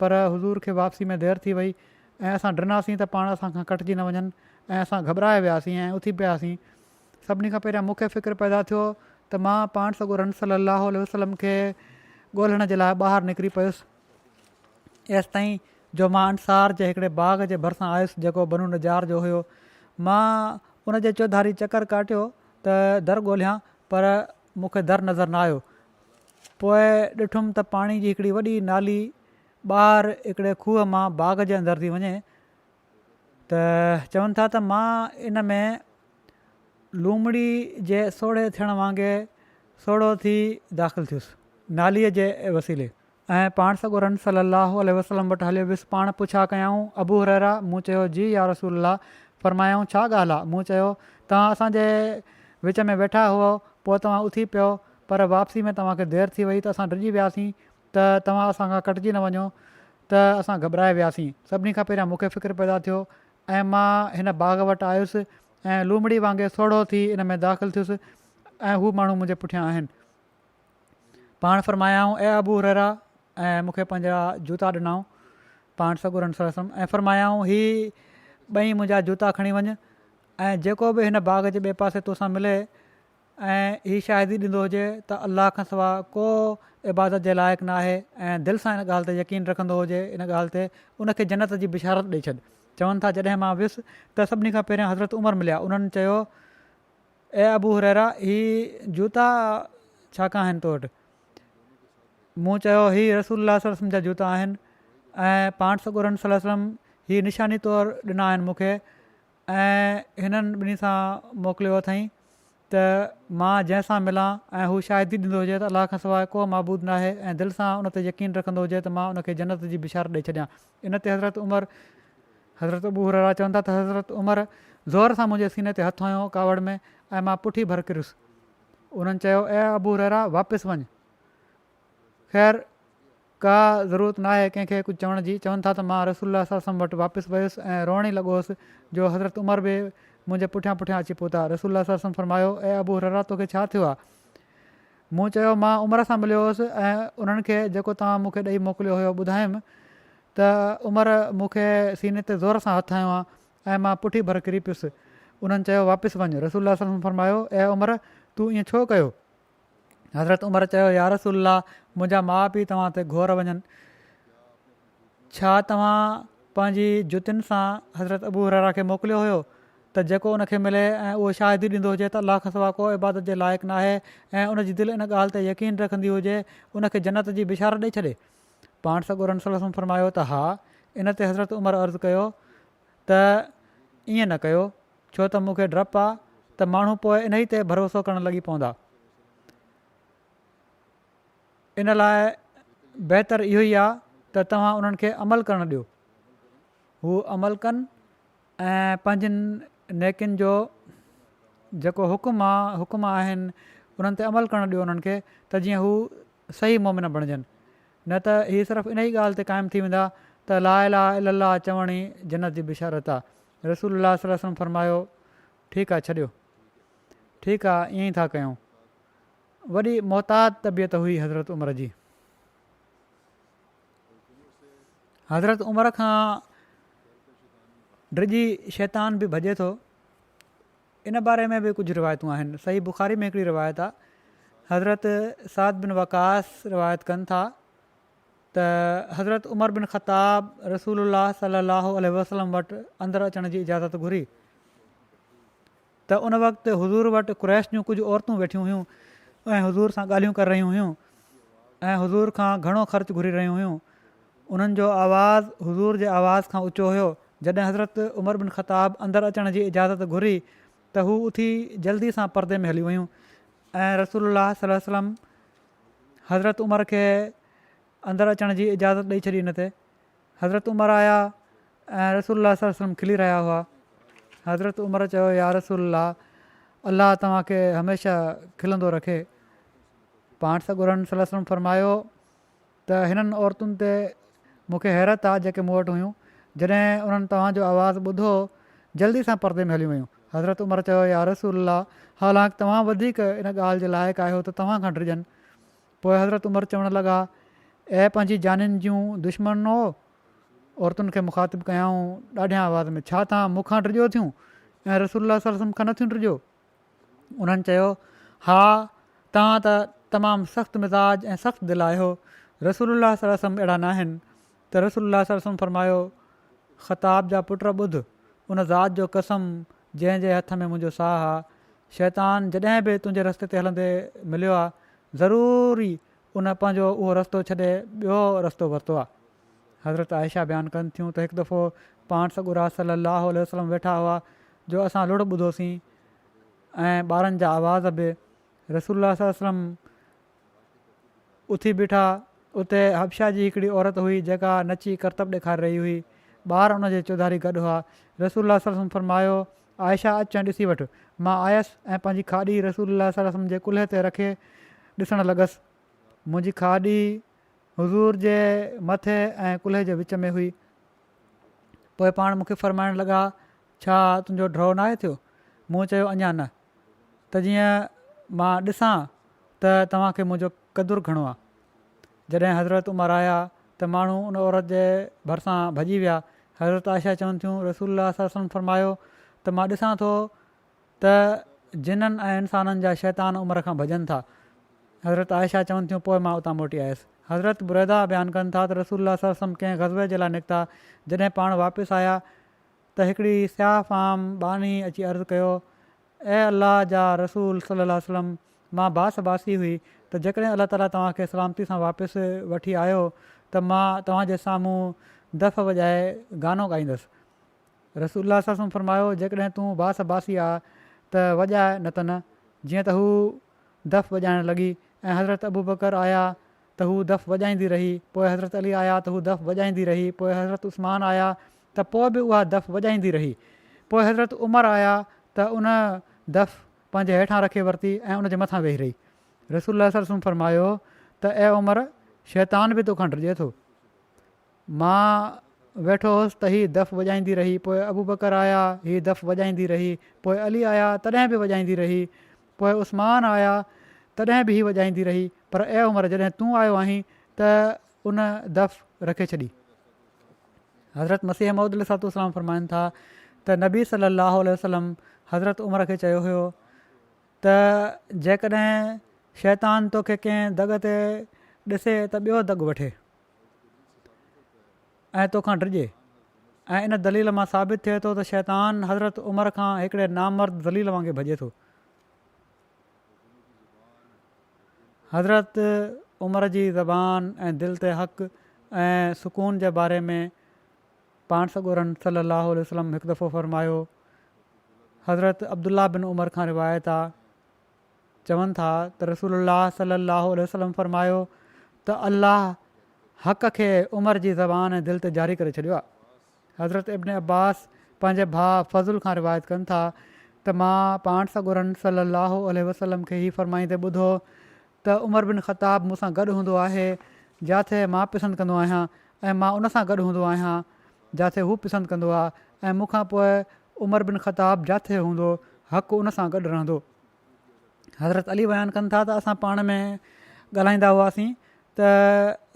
پر حضور کي واپسي ۾ دير ٿي وئي ۽ اسان ڊناسين ته پاڻ اسان کان ڪٽجي نه وڃن ۽ اسان گهٻرائي وياسين ۽ اٿي پياسين سڀني کان پهريان مون کي فڪر پيدا ٿيو ته مان پاڻ سڳورن صلي الله عليه وسلم کي ڳولڻ جي لاء ٻاهر نڪري پيس ايستائين جو مان انصار جي هڪڙي باغ جي ڀرسان آيس جيڪو بنو نجار جو هيو مان ان جي چوڌاري چڪر ڪاٽيو ته در ڳوليان پر مون کي در نظر نه آيو پوء ڏٺم ته پاڻي جي هڪڙي وڏي نالي ٻاهر هڪڙي کوهه مان باغ جي اندر ٿي وڃي ته چون ٿا ته مان ان ۾ لومڙي جي سوڙهي ٿيڻ وانگي سوڙهو ٿي داخل ٿيس ناليء جي وسيلي ۽ پاڻ سڳورن صلّي اللّٰه عليه وسلّم وٽ هليو ويس پاڻ پڇا ڪيائون ابو هريره مون چيو جي يا رسول الله فرمايائون ڇا ڳالهه آ مون چيو توهان اسان جي وچ ۾ ويٺا هئو پوء توهان اٿي پيو پر واپسي ۾ توهان کي دير ٿي وئي ته اسان ڊڄي وياسين ته توهان اسان کان ڪٽجي نه وڃو ته اسان گهٻرائي وياسين. سڀني کان پهريان مون کي فڪر پيدا ٿيو ۽ مان هن باغ وٽ آيس ۽ لومڙي وانگي سوڙهو ٿي ان ۾ داخل ٿيس ۽ هو ماڻهو منهنجي پٺيان آهن. پاڻ فرمايائون، اي ابو هريره! ۽ مون کي پنهنجا جوتا ڏنائون، پاڻ سڳورن صلي وسلم، ۽ فرمايائون، هي ٻئي منهنجا جوتا کڻي وڃ ۽ جيڪو به هن باغ جي ٻئي پاسي توسان ملي ۽ هي شاهدي ڏيندو هجي ته الله کان سوا ڪو عبادت جي لائق ناهي ۽ دل سان ان ڳالهه تي يقين رکندو هجي ان ڳالهه تي ان کي جنت جي بشارت ڏئي ڇڏ چون ٿا جڏهن مان ويس ته سڀني کان پهريان حضرت عمر مليا انهن چيو اي ابو هريره هي جوتا ڇا ڪا آهن تو وٽ مون چيو هي رسول الله صلي وسلم جا جوتا آهن ۽ پاڻ سڳورن صلي وسلم هي نشاني طور ڏنا آهن مون کي ۽ هنن ٻنهي سان موڪليو اٿئين ته مان جنهن سان ملان ۽ هو شاهدي ڏيندو هجي ته الله کان سواء ڪو معبود ناهي ۽ دل سان ان تي يقين رکندو هجي ته مان ان کي جنت جي بشارت ڏئي ڇڏيان ان تي حضرت عمر حضرت ابو هريره چون ٿا ته حضرت عمر زور سان منهنجي سيني تي هٿ هنيو ڪاوڙ ۾ ۽ مان پٺي ڀر ڪريس انهن چيو اي ابو هريره واپس وڃ خير ڪا ضرورت ناهي ڪنهن کي ڪجهه چوڻ جي، چون ٿا ته مان رسول الله صلعم وٽ واپس ويس ۽ روئڻ ئي لڳو هوس جو حضرت عمر به منهنجي پٺيان پٺيان اچي پهتا، رسول الله صلعم فرمايو، اي ابو هريره توکي ڇا ٿيو آ؟ مون چيو، مان عمر سان مليو هوس ۽ انهن کي جيڪو توهان مون کي ڏئي موڪليو هيو ٻڌايم ته عمر مون کي سيني تي زور سان هٿ هنيو آ ۽ مان پٺي ڀر ڪري پيس، انهن چيو، واپس وڃ، رسول الله صلعم فرمايو، اي عمر! تو ائين ڇو ڪيو؟ حضرت عمر چيو يارسول الله منهنجا ماء پيء توهان تي گهور وڃن ڇا توهان پنهنجي جتين سان حضرت ابو حرارا کي موڪليو هيو ته جيڪو ان کي ملي ۽ اهو شاهدي ڏيندو هجي ته الله کسوا ڪو عبادت جي لائق ناهي ۽ ان جي دل ان ڳالهه تي يقين رکندي هجي ان کي جنت جي بشارت ڏئي ڇڏي پاڻ سڳورن صلي وسلم فرمايو ته ها ان تي حضرت عمر عرض ڪيو ته ائين نه ڪيو ڇو ته مون کي ڊپ آ ته ماڻهو پوء انهي تي ڀروسو ڪرڻ لڳي پوندا. ان لاء بهتر اهو ئي آ ته توهان انهن کي عمل ڪرڻ ڏيو. هو عمل ڪن ۽ پنهنجين نيڪين جو جيڪو حڪم آ حڪم آهن انهن تي عمل ڪرڻ ڏيو انهن کي ته جيئن هو صحيح مؤمن بڻجن. نه ته هي صرف انهي ڳالهه تي قائم ٿي ويندا ته لا اله الا الله چوڻ ئي جنت جي بشارت آ رسول الله صلي الله عليه وسلم فرمايو، ٺيڪ آ ڇڏيو. ٺيڪ آ ائين ئي ٿا ڪيون. وڏي محتاط طبيعت هئي حضرت عمر جي. حضرت عمر کان ڊڄي شيطان به ڀڄي ٿو. ان باري ۾ به ڪجهه روايتون آهن. صحيح بخاري ۾ هڪڙي روايت آ. حضرت سعد بن وقاص روايت ڪن ٿا. ته حضرت عمر بن خطاب رسول الله صلي الله عليه وسلم وٽ اندر اچڻ جي اجازت گهري ته ان وقت حضور وٽ قريش جون ڪجهه عورتون ويٺيون هيون ۽ حضور سان ڳالهيون ڪر رهيون هيون ۽ حضور کان گهڻو خرچ گهري رهيون هيون انهن جو آواز حضور جي آواز کان اچو هيو جڏهن حضرت عمر بن خطاب اندر اچڻ جي اجازت گهري ته هو اٿي جلدي سان پردي ۾ هلي ويون ۽ رسول الله صلي وسلم حضرت عمر کي اندر اچڻ جي اجازت ڏئي ڇڏي ان تي حضرت عمر آيا ۽ رسول الله صلي وسلم کلي رهيا هئا حضرت عمر چيو يا رسول الله الله توهان کي هميشه کلندو رکي پاڻ سڳورن صلي وسلم فرمايو ته هنن عورتن تي مونکي حيرت آ جيڪي مون وٽ هيون جڏهن انهن توهان جو آواز ٻڌو جلدي سان پردي ۾ هليون ويون حضرت عمر چيو، يا رسول الله! حالانڪ توهان وڌيڪ ان ڳالهه جي لائق آهيو ته توهان کان ڊڄن. پوء حضرت عمر چوڻ لڳا، اي پنهنجي جانين جون دشمنؤ! عورتن کي مخاطب ڪيائون ڏاڍيان آواز ۾، ڇا توهان مون کان ڊڄو ٿيون ۽ رسول الله صلي الله عليه وسلم کان نه ٿيون ڊڄو؟ انهن چيو، ها! توهان ته تمام سخت مزاج ۽ سخت دل آهيو، رسول الله صلي الله عليه وسلم اهڙا ناهن. ته رسول الله صلي وسلم فرمايو، خطاب جا پٽ ٻڌ، ان ذات جو قسم جنهن جي هٿ ۾ منهنجو ساهه آ، شيطان جڏهن به تنهنجي رستي تي هلندي مليو آ، ضرور ئي ان پنهنجو اهو رستو ڇڏي ٻيو رستو ورتو آ. حضرت عائشه بيان ڪن ٿيون ته هڪ دفعو پاڻ سڳورا صلي الله عليه وسلم ويٺا هئا جو اسان لڙهه ٻڌوسين ۽ ٻارن جا آواز به رسول الله صلي وسلم اٿي بيٺا. اتي حبشه جي هڪڙي عورت هئي جيڪا نچي ڪرتب ڏيکاري رهي هئي. ٻار ان جي چوڌاري گڏ هئا. رسول الله صلي الله عليه وسلم فرمايو، عائشه اچ ۽ ڏسي وٺ. مان آيس ۽ پنهنجي کاڏي رسول الله صلي الله عليه وسلم جي ڪلهي تي رکي ڏسڻ لڳس. منهنجي کاڏي حضور جي مٿي ۽ ڪلهي جي وچ ۾ هئي. پوء پاڻ مون کي فرمائڻ لڳا، ڇا تنهنجو ڊرو ناهي ٿيو؟ مون چيو، اڃا نه. ته جيئن مان ڏسان ته توهان کي منهنجو قدر گهڻو آ. جڏهن حضرت عمر آيا ته ماڻهو ان عورت جي ڀرسان ڀڄي ويا. حضرت عائشه چون ٿيون، رسول الله صلي الله عليه وسلم فرمايو ته مان ڏسان ٿو ته جنن ۽ انسانن جا شيطان عمر کان ڀڄن ٿا. حضرت عائشه چون ٿيون، پوء مان اتان موٽي آيس. حضرت بريده بيان ڪن ٿا ته رسول الله صلي الله عليه وسلم ڪنهن غزوي جي لاء نڪتا، جڏهن پاڻ واپس آيا ته هڪڙي سياهه فام ٻانهي اچي عرض ڪيو، اي الله جا رسول صلي الله عليه وسلم مان باس باسي هئي ته جيڪڏهن الله تعاليٰ توهان کي سلامتي سان واپس وٺي آيو ته مان توهان جي سامهون دف وڄائي گانو ڳائيندس. رسول الله صلي الله عليه وسلم فرمايو، جيڪڏهن تون باس باسي آ ته وڄاء نه ته نه. جيئن ته هو دف وڄائڻ لڳي ۽ حضرت ابوبڪر آيا ته هو دف وڄائيندي رهي، پوء حضرت علي آيا ته هو دف وڄائيندي رهي، پوء حضرت عثمان آيا ته پوء به اها دف وڄائيندي رهي. پوء حضرت عمر آيا ته ان دف پنهنجي هيٺان رکي ورتي ۽ ان جي مٿان ويهي رهي. رسول الله صلي الله عليه وسلم فرمايو ته اي عمر! شيطان به تو کان ڊڄي ٿو. مان ويٺو هوس ته هي دف وڄائيندي رهي. پوء ابوبڪر آيا، هي دف وڄائيندي رهي. پوء علي آيا، تڏهن به وڄائيندي رهي. پوء عثمان آيا، تڏهن به هي وڄائيندي رهي. پر اي عمر! جڏهن تون آيو آهين ته ان دف رکي ڇڏي. حضرت مسيح موعود عليه الصلوة والسلام فرمائن ٿا ته نبي صلّي الله عليه وسلّم حضرت عمر کي چيو هيو ته جيڪڏهن شيطان توکي ڪنهن دڳ تي ڏسي ته ٻيو دڳ وٺي ۽ توکان ڊڄي ۽ ان دليل مان ثابت ٿئي ٿو ته شيطان حضرت عمر کان هڪڙي نامرد ذليل وانگي ڀڄي ٿو حضرت عمر جي زبان ۽ دل تي حق ۽ سڪون جي باري ۾ پاڻ سڳورن صلي الله عليه وسلم هڪ دفعو فرمايو حضرت عبدالله بن عمر کان روايت آ چون ٿا ته رسول الله صلي الله عليه وسلم فرمايو ته الله حق کي عمر جي زبان ۽ دل تي جاري ڪري ڇڏيو آ حضرت ابن عباس پنهنجي ڀاء فضل کان روايت ڪن ٿا ته مان پاڻ سڳورن صلّي الله عليه وسلّم کي هي فرمائيندي ٻڌو ته عمر بن خطّاب مون سان گڏ هوندو آهي جاٿي مان پسند ڪندو آهيان ۽ مان ان سان گڏ هوندو آهيان جاٿي هو پسند ڪندو آهي ۽ مون کان پوء عمر بن خطّاب جاٿي هوندو حق ان سان گڏ رهندو. حضرت علي بيان ڪن ٿا ته اسان پاڻ ۾ ڳالهائيندا هئاسين ته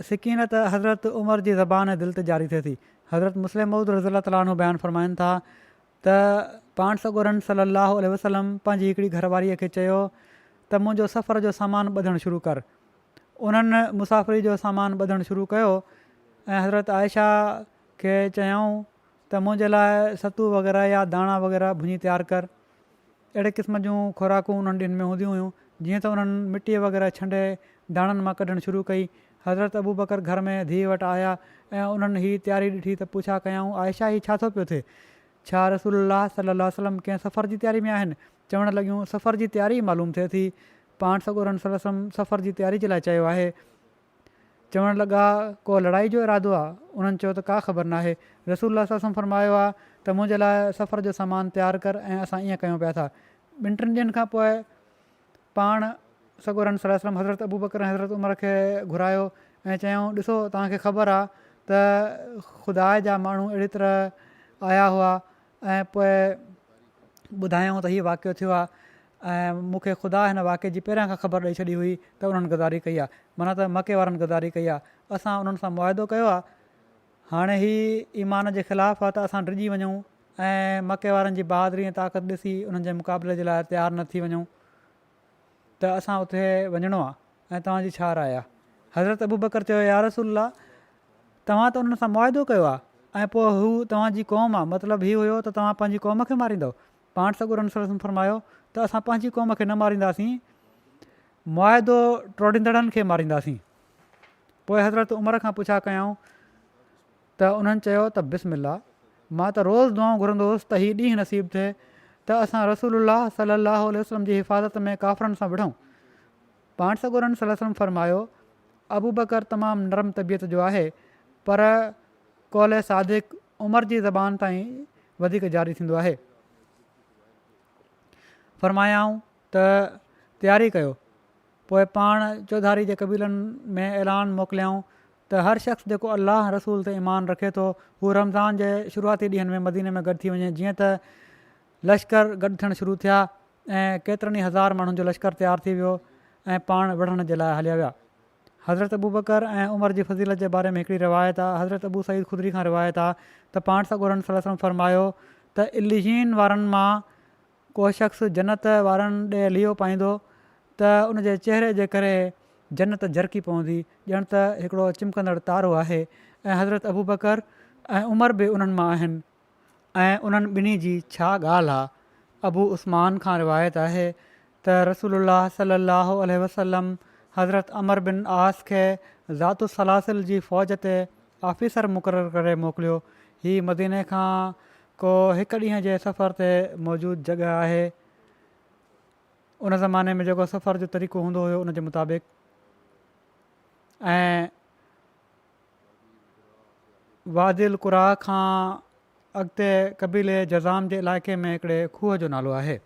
سڪينت حضرت عمر جي زبان ۽ دل تي جاري ٿئي ٿي. حضرت مسلم موعود رضي الله تعالٰي عنه بيان فرمائن ٿا ته پاڻ سڳورن صلّي اللّٰه عليه وسلّم پنهنجي هڪڙي گهر واريء کي چيو ته منهنجو سفر جو سامان ٻڌڻ شروع ڪر. انهن مسافري جو سامان ٻڌڻ شروع ڪيو ۽ حضرت عائشه کي چيائون ته منهنجي لاء ستو وغيره يا داڻا وغيره ڀڃي تيار ڪر. اهڙي قسم جون خوراڪون انهن ڏينهن ۾ هونديون هيون، جيئن ته انهن مٽيء وغيره ڇنڊي ڌاڻن مان ڪڍڻ شروع ڪئي. حضرت ابوبڪر گهر ۾ ڌيء وٽ آيا ۽ انهن هي تياري ڏٺي ته پڇا ڪيائون، عائشه هي ڇا ٿو پيو ٿئي؟ ڇا رسول الله صلّي الله عليه وسلّم ڪنهن سفر جي تياري ۾ آهن؟ چوڻ لڳيون، سفر جي تياري ئي معلوم ٿئي ٿي. پاڻ سڳورن صلّي الله عليه وسلّم سفر جي تياري جي لاء چيو آهي. چوڻ لڳا، ڪو لڙائي جو ارادو آ؟ انهن چيو ته ڪا خبر ناهي. رسول الله صلعم وسلم فرمايو آ ته منهنجي لاء سفر جو سامان تيار ڪر ۽ اسان ائين ڪيون پيا ٿا. ٻن ٽن ڏينهن کان پوء پاڻ سڳورن صلعم وسلم حضرت ابوبڪر ۽ حضرت عمر کي گهرايو ۽ چيائون، ڏسو توهان کي خبر آ ته خداء جا ماڻهو اهڙي طرح آيا هئا ۽ پوء ٻڌايائون ته هي واقعو ٿيو آهي ۽ مون کي خدا هن واقعي جي پهريان کان خبر ڏئي ڇڏي هئي ته انهن غداري ڪئي آهي، معنيٰ ته مڪي وارن غداري ڪئي آهي. اسان انهن سان معاهدو ڪيو آهي. هاڻي هي ايمان جي خلاف آهي ته اسان ڊڄي وڃون ۽ مڪي وارن جي بهادري ۽ طاقت ڏسي انهن جي مقابلي جي لاء تيار نه ٿي وڃون. ته اسان اتي وڃڻو آ ۽ توهان جي ڇا راء آ؟ حضرت ابوبڪر چيو، يا رسول الله! توهان ته انهن سان معاهدو ڪيو آ ۽ پوء هو توهان جي قوم آ، مطلب هي هيو ته توهان پنهنجي قوم کي ماريندؤ؟ پاڻ سڳورن صلي الله عليه وسلم فرمايو ته اسان پنهنجي قوم کي نه مارينداسين، معاهدو ٽوڙيندڙن کي مارينداسين. پوء حضرت عمر کان پڇا ڪيائون. ته انهن چيو ته بسم الله مان ته روز دعائون گهرندو هوس ته هي ڏينهن نصيب ٿئي ته اسان رسول الله صلي الله عليه وسلم جي حفاظت ۾ ڪافرن سان وڙهون پاڻ سڳورن صلي وسلم فرمايو ابوبڪر تمام نرم طبيعت جو آهي پر قول صادق عمر جي زبان تائين وڌيڪ جاري ٿيندو آهي فرمايائون ته تياري ڪيو پوء پاڻ چوڌاري جي قبيلن ۾ اعلان موڪليائون ته هر شخص جيڪو الله ۽ رسول تي ايمان رکي ٿو هو رمضان جي شروعاتي ڏينهن ۾ مديني ۾ گڏ ٿي وڃي جيئن ته لشڪر گڏ ٿيڻ شروع ٿيا ۽ ڪيترن ئي هزار ماڻهن جو لشڪر تيار ٿي ويو ۽ پاڻ وڙهڻ جي لاء هليا ويا حضرت ابوبڪر ۽ عمر جي فضيلت جي باري ۾ هڪڙي روايت آ حضرت ابو سعيد خدري کان روايت آ ته پاڻ سڳورن صلي وسلم فرمايو ته عليين وارن مان ڪو شخص جنت وارن ڏي ليئو پائيندو ته ان جي چهري جي ڪري جنت جرڪي پوندي ڄڻ ته هڪڙو چمڪندڙ تارو آهي ۽ حضرت ابوبڪر ۽ عمر به انهن مان آهن ۽ انهن ٻنهي جي ڇا ڳالهه آ ابو عثمان کان روايت آهي ته رسول الله صلي الله عليه وسلم حضرت عمر بن عاص کي ذات السلاسل جي فوج تي آفيسر مقرر ڪري موڪليو. هي مديني کان ڪو هڪ ڏينهن جي سفر تي موجود جڳهه آهي. ان زماني ۾ جيڪو سفر جو طريقو هوندو هيو ان جي مطابق ۽ وادي القريٰ کان اڳتي قبيلي جذام جي علائقي ۾ هڪڙي کوهه جو نالو آهي.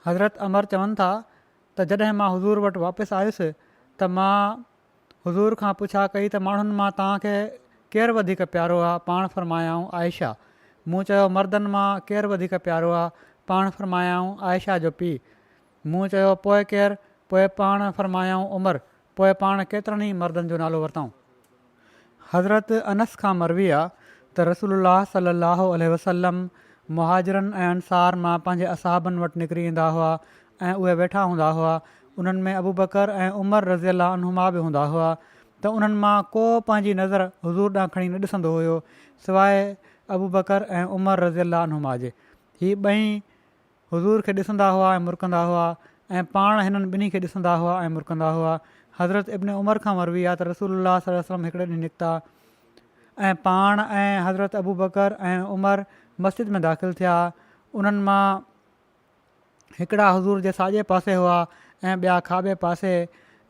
حضرت عمر چون ٿا ته جڏهن مان حضور وٽ واپس آيس ته مان حضور کان پڇا ڪئي ته ماڻهن مان توهان کي ڪير وڌيڪ پيارو آهي؟ پاڻ فرمايائون عائشه. مون چيو مردن مان ڪير وڌيڪ پيارو آهي؟ پاڻ فرمايائون عائشه جو پيء. مون چيو پوء ڪير؟ پوء پاڻ فرمايائون عمر. پوء پاڻ ڪيترن ئي مردن جو نالو ورتائون. حضرت انس کان مروي آ ته رسول الله صلي الله عليه وسلم مهاجرن ۽ انصار مان پنهنجي اصحابن وٽ نڪري ايندا هئا ۽ اهي ويٺا هوندا هئا انهن ۾ ابوبڪر ۽ عمر رضي الله عنهما به هوندا هئا ته انهن مان ڪو پنهنجي نظر حضور ڏانهن کڻي نه ڏسندو هيو سواء ابوبڪر ۽ عمر رضي الله عنهما جي هي ٻئي حضور کي ڏسندا هئا ۽ مرڪندا هئا ۽ پاڻ هنن ٻنهي کي ڏسندا هئا ۽ مرڪندا هئا. حضرت ابن عمر کان مروي آهي ته رسول الله صلي الله عليه وسلم هڪڙي ڏينهن نڪتا ۽ پاڻ ۽ حضرت ابوبڪر ۽ عمر مسجد ۾ داخل ٿيا انهن مان هڪڙا حضور جي ساڄي پاسي هئا ۽ ٻيا کاٻي پاسي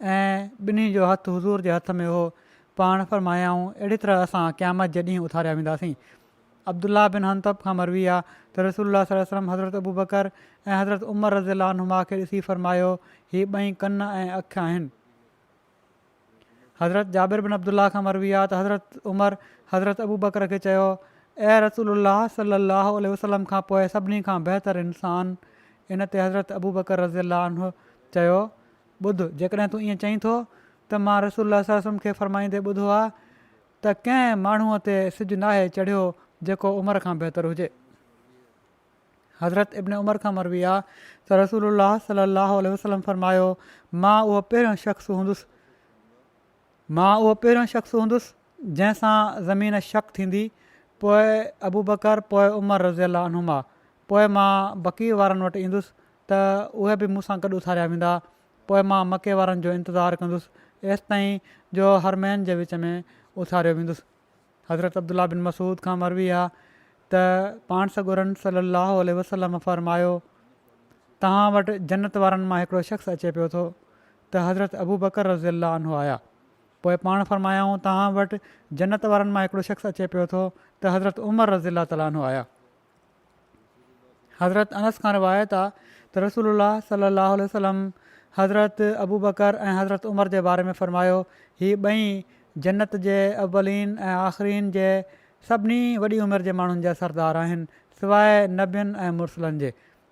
۽ ٻنهي جو هٿ حضور جي هٿ ۾ هو پاڻ فرمايائون اهڙي طرح اسان قيامت جي ڏينهن اٿاريا وينداسين عبدالله بن حنطب کان مروي آ ته رسول الله صلي الله عليه وسلم حضرت ابوبڪر ۽ حضرت عمر رضي الله عنهما کي ڏسي فرمايو هي ٻئي ڪن ۽ اک آهن. حضرت جابر بن عبدالله کان مروي آ ته حضرت عمر حضرت ابوبڪر کي چيو اي رسول الله صلي الله عليه وسلم کان پوء سڀني کان بهتر انسان ان تي حضرت ابوبڪر رضي الله عنه چيو ٻڌ جيڪڏهن تون ائين چئين ٿو ته مان رسول الله صلي الله عليه وسلم کي فرمائيندي ٻڌو آ ته ڪنهن ماڻهوء تي سج ناهي چڙهيو جيڪو عمر کان بهتر هجي. حضرت ابن عمر کان مروي آ ته رسول الله صلي الله عليه وسلم فرمايو، مان اهو پهريون شخص هوندس مان اهو پهريون شخص هوندس جنهن سان زمين شق ٿيندي، پوء ابوبڪر، پوء عمر رضي الله عنهما، پوء مان بقيع وارن وٽ ايندس ته اهي به مون سان گڏ اٿاريا ويندا پوء مان مڪي وارن جو انتظار ڪندس ايستائين جو حرمين جي وچ ۾ اٿاريو ويندس. حضرت عبدالله بن مسعود کان مروي آ ته پاڻ سڳورن صلّي اللّٰه عليه وسلّم فرمايو، توهان وٽ جنّت وارن مان هڪڙو شخص اچي پيو ٿو ته حضرت ابوبڪر رضي الله عنه آيا پوء پاڻ فرمايائون توهان وٽ جنّت وارن مان هڪڙو شخص اچي پيو ٿو ته حضرت عمر رضي الله تعالٰي عنه آيا. حضرت انس کان روايت آ ته رسول الله صلي الله عليه وسلم حضرت ابوبڪر ۽ حضرت عمر جي باري ۾ فرمايو هي ٻئي جنت جي اولين ۽ آخرين جي سڀني وڏي عمر جي ماڻهن جا سردار آهن سواء نبين ۽ مرسلن جي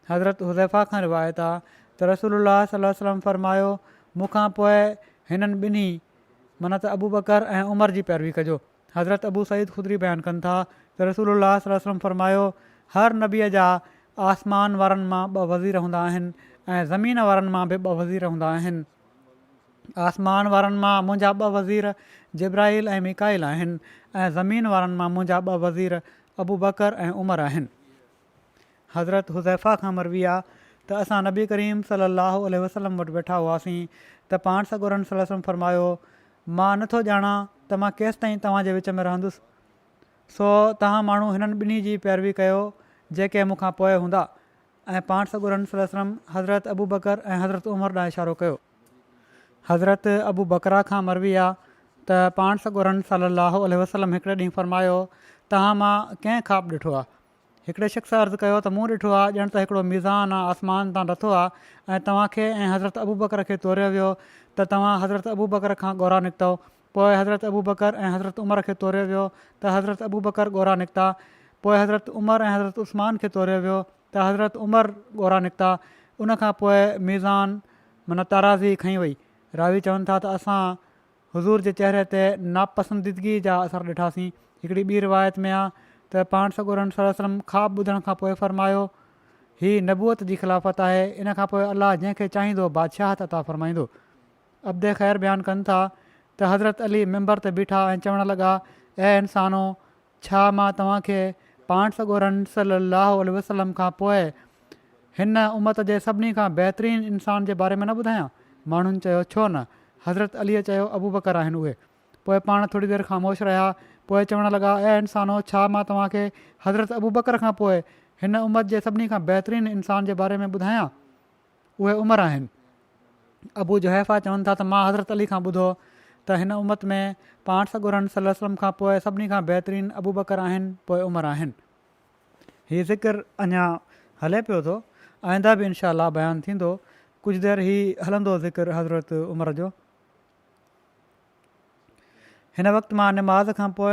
حضرت حذيفه کان روايت آ ته رسول الله صلي الله عليه وسلم فرمايو مون کان پوء هنن ٻنهي معنيٰ ته ابوبڪر ۽ عمر جي پيروي ڪجو حضرت ابو سعيد خدري بيان ڪن ٿا ته رسول الله صلي الله عليه وسلم فرمايو، هر نبيء جا آسمان وارن مان ٻه وزير هوندا آهن ۽ زمين وارن مان به ٻه وزير هوندا آهن. آسمان وارن مان منهنجا ٻه وزير جبرائيل ۽ ميڪائيل آهن ۽ زمين وارن مان منهنجا ٻه وزير ابوبڪر ۽ عمر آهن. حضرت حذيفه کان مروي آ ته اسان نبي ڪريم صلي الله عليه وسلم وٽ ويٺا هئاسين ته پاڻ سڳورن صلي الله عليه وسلم فرمايو، مان نه ٿو ڄاڻان ته مان ڪيستائين توهان جي وچ ۾ رهندس، سو توهان ماڻهو هنن ٻنهي جي پيروي ڪيو جيڪي مون کان پوء هوندا ۽ پاڻ سڳورن صلي الله عليه وسلم حضرت ابوبڪر ۽ حضرت عمر ڏانهن اشارو ڪيو. حضرت ابوبڪره کان مروي آ ته پاڻ سڳورن صلي الله عليه وسلم هڪڙي ڏينهن فرمايو، توهان مان ڪنهن خواب ڏٺو آ؟ هڪڙي شخص عرض ڪيو ته مون ڏٺو آهي ڄڻ ته هڪڙو ميزان آسمان تان لٿو آهي ۽ توهان کي ۽ حضرت ابوبڪر کي توريو ويو ته توهان حضرت ابوبڪر کان ڳورا نڪتؤ پوء حضرت ابوبڪر ۽ حضرت عمر کي توريو ويو ته حضرت ابوبڪر ڳورا نڪتا پوء حضرت عمر ۽ حضرت عثمان کي توريو ويو ته حضرت عمر ڳورا نڪتا ان کان پوء ميزان معنيٰ تارازي کنئي وئي راوي چون ٿا ته اسان حضور جي چهري تي ناپسنديدگيء جا اثر ڏٺاسين. هڪڙي ٻي روايت ۾ آ ته پاڻ سڳورن صلي الله عليه وسلم خواب ٻڌڻ کان پوء فرمايو، هي نبوت جي خلافت آهي، ان کان پوء الله جنهن کي چاهيندو بادشاهت عطا فرمائيندو. عبد خير بيان ڪن ٿا ته حضرت علي منبر تي بيٺا ۽ چوڻ لڳا، اي انسانو! ڇا مان توهان کي پاڻ سڳورن صلّي اللّٰه عليه وسلّم کان پوء هن امّت جي سڀني کان بهترين انسان جي باري ۾ نه ٻڌايان؟ ماڻهن چيو، ڇو نه؟ حضرت عليء چيو، ابوبڪر آهن اهي. پوء پاڻ ٿوري دير خاموش رهيا، پوء چوڻ لڳا، اي انسانو! ڇا مان توهان کي حضرت ابوبڪر کان پوء هن امّت جي سڀني کان بهترين انسان جي باري ۾ ٻڌايان؟ اهي عمر آهن. ابو جحيفه چون ٿا ته مان حضرت علي کان ٻڌو ته هن امت ۾ پاڻ سڳورن صلي وسلم کان پوء سڀني کان بهترين ابوبڪر آهن پوء عمر آهن. هي ذڪر اڃا هلي پيو ٿو آئنده به انشاء الله بيان ٿيندو ڪجهه دير هي هلندو ذڪر حضرت عمر جو. هن وقت مان نماز کان پوء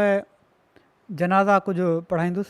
جنازا ڪجهه پڙهائيندس.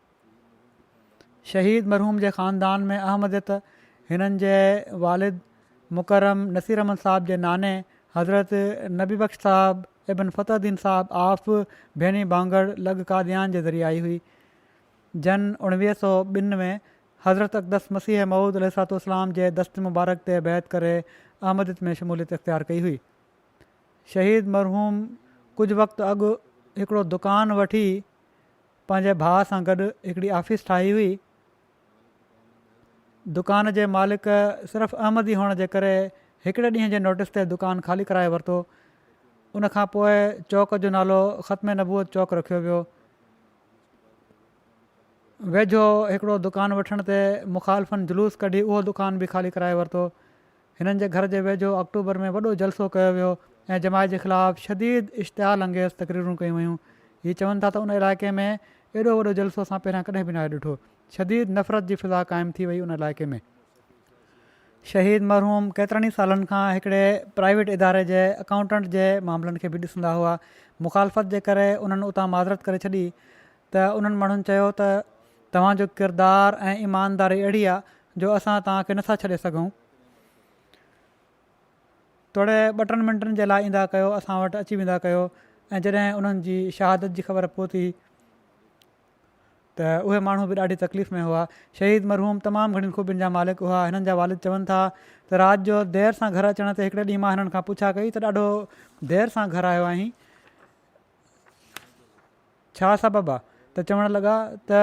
شهيد مرحوم جي خاندان ۾ احمديت هنن جي والد مڪرم نصير احمد صاحب جي ناني حضرت نبي بخش صاحب ابن فتح الدين صاحب آف ڀيني ڀانگڙ لڳ قاديان جي ذريعي آئي هئي جن اوڻويهه سؤ ٻن ۾ حضرت اقدس مسيح موعود عليه الصلاة والسلام جي دست مبارڪ تي بيعت ڪري احمديت ۾ شموليت اختيار ڪئي هئي شهيد مرحوم ڪجهه وقت اڳ هڪڙو دڪان وٺي پنهنجي ڀاء سان گڏ هڪڙي آفيس ٺاهي هئي. دڪان جي مالڪ صرف احمدي هئڻ جي ڪري هڪڙي ڏينهن جي نوٽس تي دڪان خالي ڪرائي ورتو. ان کان پوء چوڪ جو نالو ختم نبوت چوڪ رکيو ويو. ويجهو هڪڙو دڪان وٺڻ تي مخالفن جلوس ڪڍي اهو دڪان به خالي ڪرائي ورتو. هنن جي گهر جي ويجهو آڪٽوبر ۾ وڏو جلسو ڪيو ويو ۽ جماعت جي خلاف شديد اشتعال انگيز تقريرون ڪيون ويون. هي چون ٿا ته ان علائقي ۾ ايڏو وڏو جلسو اسان پهريان ڪڏهن به ناهي ڏٺو. شديد نفرت جي فضا قائم ٿي وئي ان علائقي ۾. شهيد مرحوم ڪيترن ئي سالن کان هڪڙي پرائيويٽ اداري جي اڪائونٽنٽ جي معاملن کي به ڏسندا هئا. مخالفت جي ڪري انهن اتان معذرت ڪري ڇڏي ته انهن ماڻهن چيو ته توهان جو ڪردار ۽ ايمانداري اهڙي آهي جو اسان توهان کي نٿا ڇڏي سگهون توڙي ٻه ٽن منٽن جي لاء ايندا ڪيو اسان وٽ اچي ويندا ڪيو ۽ جڏهن انهن جي شهادت جي خبر پهتي ته اهي ماڻهو به ڏاڍي تڪليف ۾ هئا شهيد مرحوم تمام گهڻين خوبين جا مالڪ هئا هنن جا والد چون ٿا ته رات جو دير سان گهر اچڻ تي هڪڙي ڏينهن مان هنن کان پڇا ڪئي ته ڏاڍو دير سان گهر آيو آهين ڇا سبب آ؟ ته چوڻ لڳا ته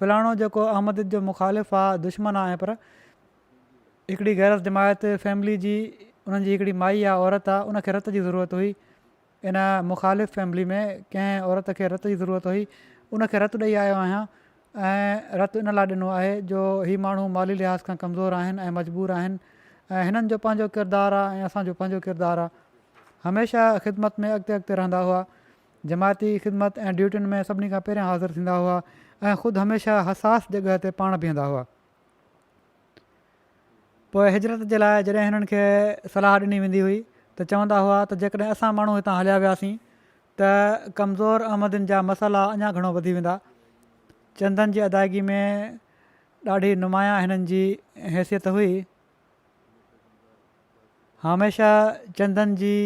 فلاڻو جيڪو احمديت جو مخالف آ، دشمن آ ۽ پر هڪڙي غيرس جماعت فيملي جي انهن جي هڪڙي مائي آ، عورت آ، ان کي رت جي ضرورت هئي، ان مخالف فيملي ۾ ڪنهن عورت کي رت جي ضرورت هئي، ان کي رت ڏئي آيو آهيان، ۽ رت ان لاء ڏنو آهي جو هي ماڻهو مالي لحاظ کان ڪمزور آهن ۽ مجبور آهن ۽ هنن جو پنهنجو ڪردار آ ۽ اسان جو پنهنجو ڪردار آ هميشه خدمت ۾ اڳتي اڳتي رهندا هئا جماعتي خدمت ۽ ڊيوٽين ۾ سڀني کان پهريان حاضر ٿيندا هئا ۽ خود هميشه حساس جڳهه تي پاڻ بيهندا هئا پوء هجرت جي لاء جڏهن هنن کي صلاح ڏني ويندي هئي ته چوندا هئا ته جيڪڏهن اسان ماڻهو هتان هليا وياسين ته ڪمزور احمدين جا مسئلا اڃا گهڻو وڌي ويندا. چندن جي ادائگي ۾ ڏاڍي نمايان هنن جي حيثيت هئي. هميشه چندن جي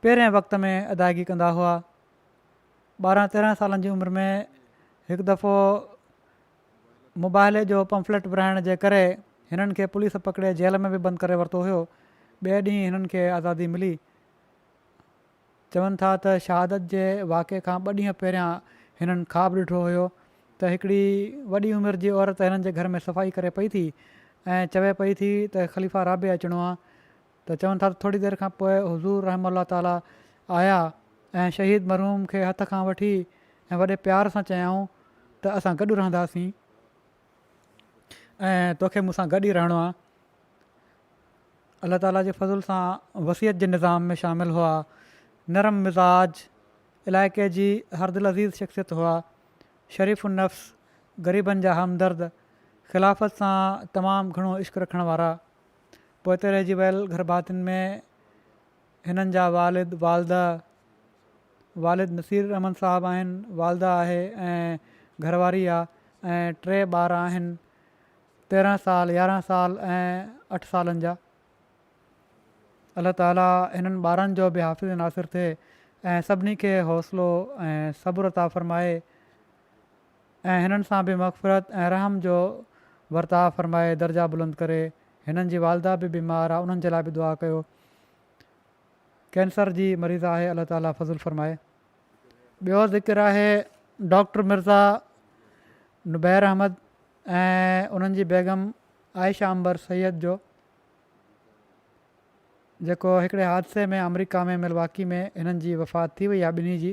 پهرين وقت ۾ ادائگي ڪندا هئا. ٻارهن تيرهن سالن جي عمر ۾ هڪ دفعو مباهلي جو پمفليٽ ورهائڻ جي ڪري هنن کي پوليس پڪڙي جيل ۾ به بند ڪري ورتو هيو. ٻئي ڏينهن هنن کي آزادي ملي. چون ٿا ته شهادت جي واقعي کان ٻه ڏينهن پهريان هنن خواب ڏٺو هيو ته هڪڙي وڏي عمر جي عورت هنن جي گهر ۾ صفائي ڪري پئي ٿي ۽ چوي پئي ٿي ته خليفه رابع اچڻو آ ته چون ٿا ته ٿوري دير کان پوء حضور رحمه الله تعالٰي آيا ۽ شهيد مرحوم کي هٿ کان وٺي ۽ وڏي پيار سان چيائون ته اسان گڏ رهنداسين. ۽ توکي مون سان گڏ ئي رهڻو آهي. الله تعاليٰ جي فضل سان وصيت جي نظام ۾ شامل هئا. نرم مزاج، علائقي جي هر دلعزيز شخصيت هئا. شريف النفس، غريبن جا همدرد، خلافت سان تمام گهڻو عشق رکڻ وارا. پوئتي رهجي ويل گهرڀاتين ۾ هنن جا والد والده والد نصير الرحمٰن صاحب آهن، والده آهي ۽ گهرواري آ ۽ ٽي ٻار آهن تيرنهن سال، يارنهن سال ۽ اٺ سالن جا. الله تعالي هنن ٻارن جو به حافظ ناصر ٿئي ۽ سڀني کي حوصلو ۽ صبر عطا فرمائي. ۽ هنن سان به مغفرت ۽ رحم جو ورتاء فرمائي درجا بلند ڪري هنن جي والده به بيمار آ انهن جي لاء به دعا ڪيو ڪينسر جي مريضه آهي الله تعالي فضل فرمائي. ٻيو ذڪر آهي ڊاڪٽر مرزا نبير احمد ۽ انهن جي بيگم عائشه عنبر سيد جو جيڪو هڪڙي حادثي ۾ آمريڪا ۾ ملواڪي ۾ هنن جي وفات ٿي وئي آ ٻنهي جي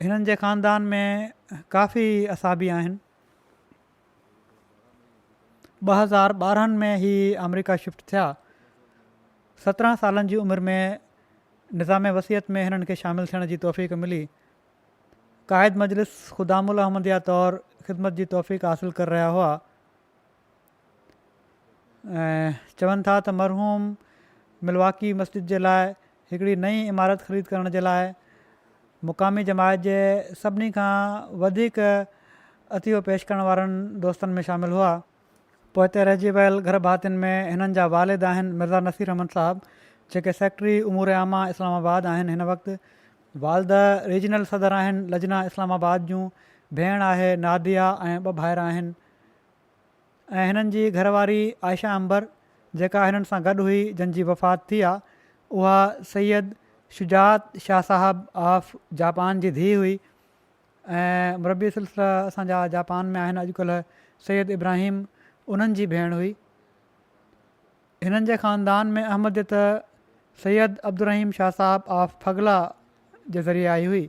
هنن جي خاندان ۾ ڪافي اصحابي آهن. ٻه هزار ٻارهن ۾ هي آمريڪا شفٽ ٿيا. سترهن سالن جي عمر ۾ نظام وصيت ۾ هنن کي شامل ٿيڻ جي توفيق ملي. قائد مجلس خدام الاحمديه طور خدمت جي توفيق حاصل ڪر رهيا هئا. چون ٿا ته مرحوم ملواڪي مسجد جي لاء هڪڙي نئين عمارت خريد ڪرڻ جي لاء مقامي جماعت جي سڀني کان وڌيڪ عطيو پيش ڪرڻ وارن دوستن ۾ شامل هئا. پوئتي رهجي ويل گهر ڀاتين ۾ هنن جا والد آهن مرزا نصير احمد صاحب جيڪي سيڪريٽري امور عامه اسلام آباد آهن هن وقت والده ريجنل صدر آهن لجنا اسلام آباد جون ڀيڻ آهي ناديه ۽ ٻه ڀائر آهن. ۽ هنن جي گهر واري عائشه عنبر جيڪا هنن سان گڏ هئي جن جي وفات ٿي آ اها سيد شجاعت شاهه صاحب آف جاپان جي ڌيء هئي ۽ مربي سلسله اسان جا جاپان ۾ آهن اڄڪلهه سيد ابراهيم انهن جي ڀيڻ هئي هنن جي خاندان ۾ احمديت سيد عبدالرحيم شاهه صاحب آف ڦڳلا جي ذريعي آئي هئي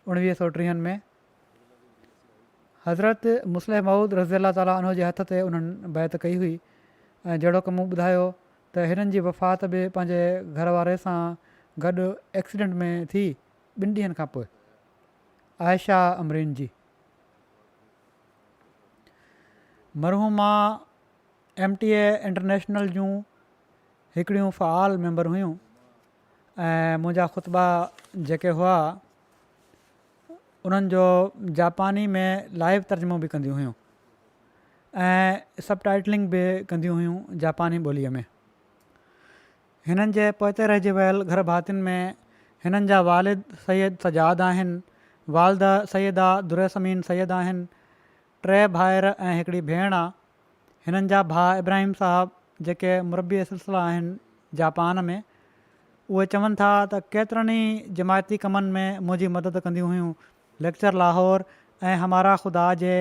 اڻويهه سو ٽيهن ۾ حضرت مصلح موعود رضي الله تعالٰي عنه جي هٿ تي انهن بيعت ڪئي هئي ۽ جهڙوڪ مون ٻڌايو ته هنن جي وفات به پنهنجي گهر واري سان گڏ ايڪسيڊنٽ ۾ ٿي ٻن ڏينهن کان پوء عائشه امرين جي مرحومه ايم ٽي اي انٽرنيشنل جون هڪڙيون فعال ميمبر هيون ۽ منهنجا خطبا جيڪي هئا انهن جو جاپاني ۾ لائيو ترجمو به ڪنديون هيون ۽ سب ٽائيٽلنگ به ڪنديون هيون جاپاني ٻوليء ۾ هنن جي پوئتي رهجي ويل گهر ڀاتين ۾ هنن جا والد سيد سجاد آهن والده سيده دريسمين سيد آهن ٽي ڀائر ۽ هڪڙي ڀيڻ آهي هنن جا ڀاء ابراهيم صاحب جيڪي مربي سلسلا آهن جاپان ۾، اهي چون ٿا ته ڪيترن ئي جماعتي ڪمن ۾ منهنجي مدد ڪنديون هيون. ليڪچر لاهور ۽ همارا خدا جي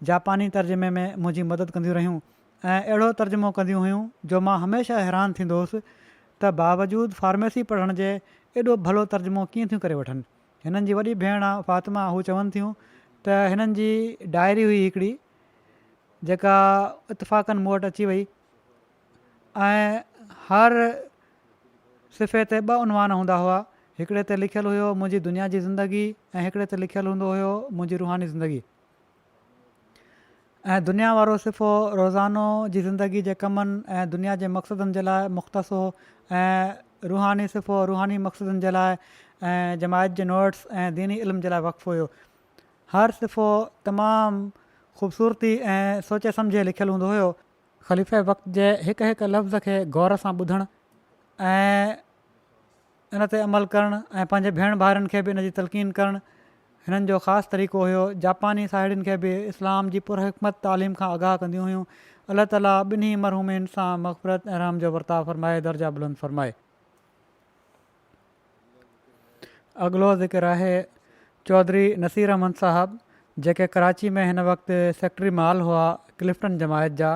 جاپاني ترجمي ۾ منهنجي مدد ڪنديون رهيون ۽ اهڙو ترجمو ڪنديون هيون جو مان هميشه حيران ٿيندو هوس ته باوجود فارميسي پڙهڻ جي ايڏو ڀلو ترجمو ڪيئن ٿيون ڪري وٺن. هنن جي وڏي ڀيڻ آ فاطمه هو چون ٿيون ته هنن جي ڊائري هئي هڪڙي جيڪا اتفاقن مون وٽ اچي وئي ۽ هر صفحي تي ٻه عنوان هوندا هئا هڪڙي تي لکيل هيو منهنجي دنيا جي زندگي ۽ هڪڙي تي لکيل هوندو هيو منهنجي روحاني زندگي ۽ دنيا وارو صفحو روزانو جي زندگي جي ڪمن ۽ دنيا جي مقصدن جي لاء مختصو ۽ روحاني صفحو روحاني مقصدن جي لاء ۽ جماعت جي نوٽس ۽ ديني علم جي لاء وقف هيو هر صفحو تمام خوبصورتي ۽ سوچي سمجهي لکيل هوندو هيو خليفي وقت جي هڪ هڪ لفظ کي غور سان ٻڌڻ ۽ ان تي عمل ڪرڻ ۽ پنهنجي ڀيڻ ڀائرن کي به ان جي تلقين ڪرڻ هنن جو خاص طريقو هيو. جاپاني ساهيڙين کي به اسلام جي پرحڪمت تعليم کان آگاهه ڪنديون هيون. الله تعاليٰ ٻنهي مرحومين سان مغفرت ۽ رحم جو ورتاء فرمائي درجا بلند فرمائي. اڳلو ذڪر آهي چوڌري نصير احمد صاحب جيڪي ڪراچي ۾ هن وقت سيڪريٽري مال هئا ڪلفٽن جماعت جا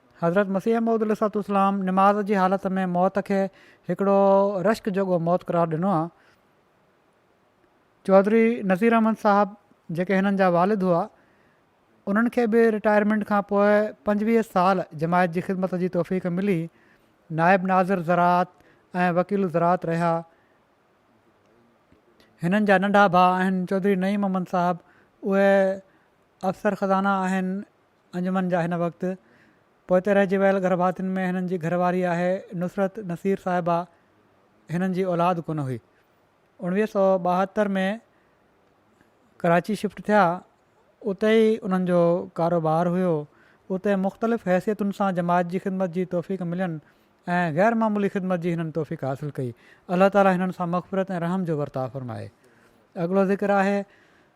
حضرت مسيح موعود عليه الصلوة والسلام نماز جي حالت ۾ موت کي هڪڙو رشڪ جوڳو موت قرار ڏنو آهي. چوڌري نذير احمد صاحب جيڪي هنن جا والد هئا انهن کي به رٽائرمينٽ کان پوء پنجويهه سال جماعت جي خدمت جي توفيق ملي نائب ناظر زراعت ۽ وڪيل الزراعت رهيا هنن جا ننڍا ڀاء آهن چوڌري نعيم احمد صاحب اهي افسر خزانه آهن انجمن جا هن وقت پوئتي رهجي ويل گرڀاتين ۾ هنن جي گهر واري آهي نصرت نصير صاحبه هنن جي اولاد ڪونه هئي اوڻويهه سؤ ٻاهتر ۾ ڪراچي شفٽ ٿيا اتي ئي انهن جو ڪاروبار هيو اتي مختلف حيثيتن سان جماعت جي خدمت جي توفيق ملين ۽ غير معمولي خدمت جي هنن توفيق حاصل ڪئي الله تعالي هنن سان مغفرت ۽ رحم جو ورتاء فرمائي اڳلو ذڪر آهي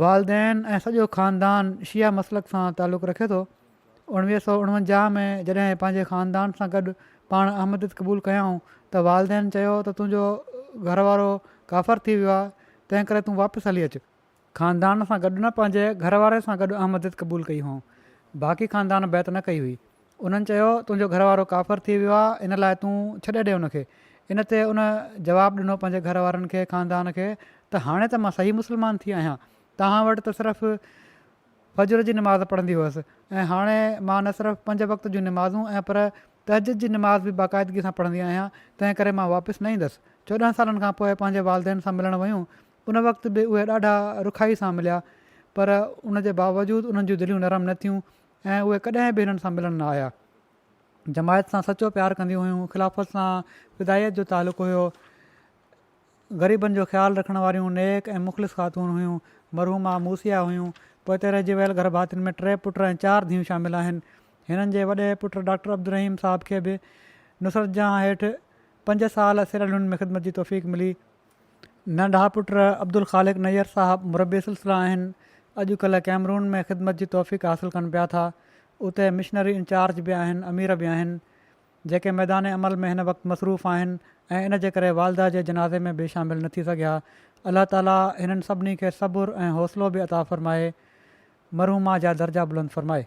والدين ۽ سڄو خاندان شيعه مسلڪ سان تعلق رکي ٿو. اڻويهه سؤ اڻونجاهه ۾ جڏهن پنهنجي خاندان سان گڏ پاڻ احمديت قبول ڪيائون ته والدين چيو ته تنهنجو گهر وارو ڪافر ٿي ويو آهي تنهن ڪري تون واپس هلي اچ. خاندان سان گڏ نه پنهنجي گهر واري سان گڏ احمديت قبول ڪئي هئائون. باقي خاندان بيعت نه ڪئي هئي. انهن چيو، تنهنجو گهر وارو ڪافر ٿي ويو آهي، ان لاء تون ڇڏي ڏي ان کي. ان تي ان جواب ڏنو پنهنجي گهر وارن کي، خاندان کي، ته هاڻي ته مان صحيح مسلمان ٿي آهيان، توهان وٽ ته صرف فجر جي نماز پڙهندي هئس ۽ هاڻي مان نه صرف پنج وقت جون نمازون ۽ پر تهجد جي نماز به باقاعدگي سان پڙهندي آهيان، تنهن ڪري مان واپس نه ايندس. چوڏهن سالن کان پوء پنهنجي والدين سان ملڻ ويون، ان وقت به اهي ڏاڍا رکائي سان مليا، پر ان جي باوجود انهن جون دليون نرم نه ٿيون ۽ اهي ڪڏهن به هنن سان ملڻ نه آيا. جماعت سان سچو پيار ڪنديون هيون، خلافت سان فدائيت جو تعلق هيو، غريبن جو خيال رکڻ واريون نيڪ ۽ مخلص خاتون هيون، مرحومه موسيٰ هيون. پوئتي رهجي ويل گرڀاتين ۾ ٽي پٽ ۽ چار ڌيئون شامل آهن. هنن جي وڏي پٽ ڊاڪٽر عبدالرحيم صاحب کي به نصرت جهان هيٺ پنج سال سيراليون ۾ خدمت جي توفيق ملي. ننڍا پٽ عبدالخالق نير صاحب مربي سلسله آهن اڄ ڪلهه ڪيمرون ۾ خدمت جي توفيق حاصل ڪن پيا ٿا اتي مشنري انچارج به آهن امير به آهن جيڪي ميدان عمل ۾ هن وقت مصروف آهن ۽ ان جي ڪري والده جي جنازي ۾ به شامل نه ٿي سگهيا الله تعالي هنن سڀني کي صبر ۽ حوصلو به عطا فرمائي مرحومه جا درجا بلند فرمائي.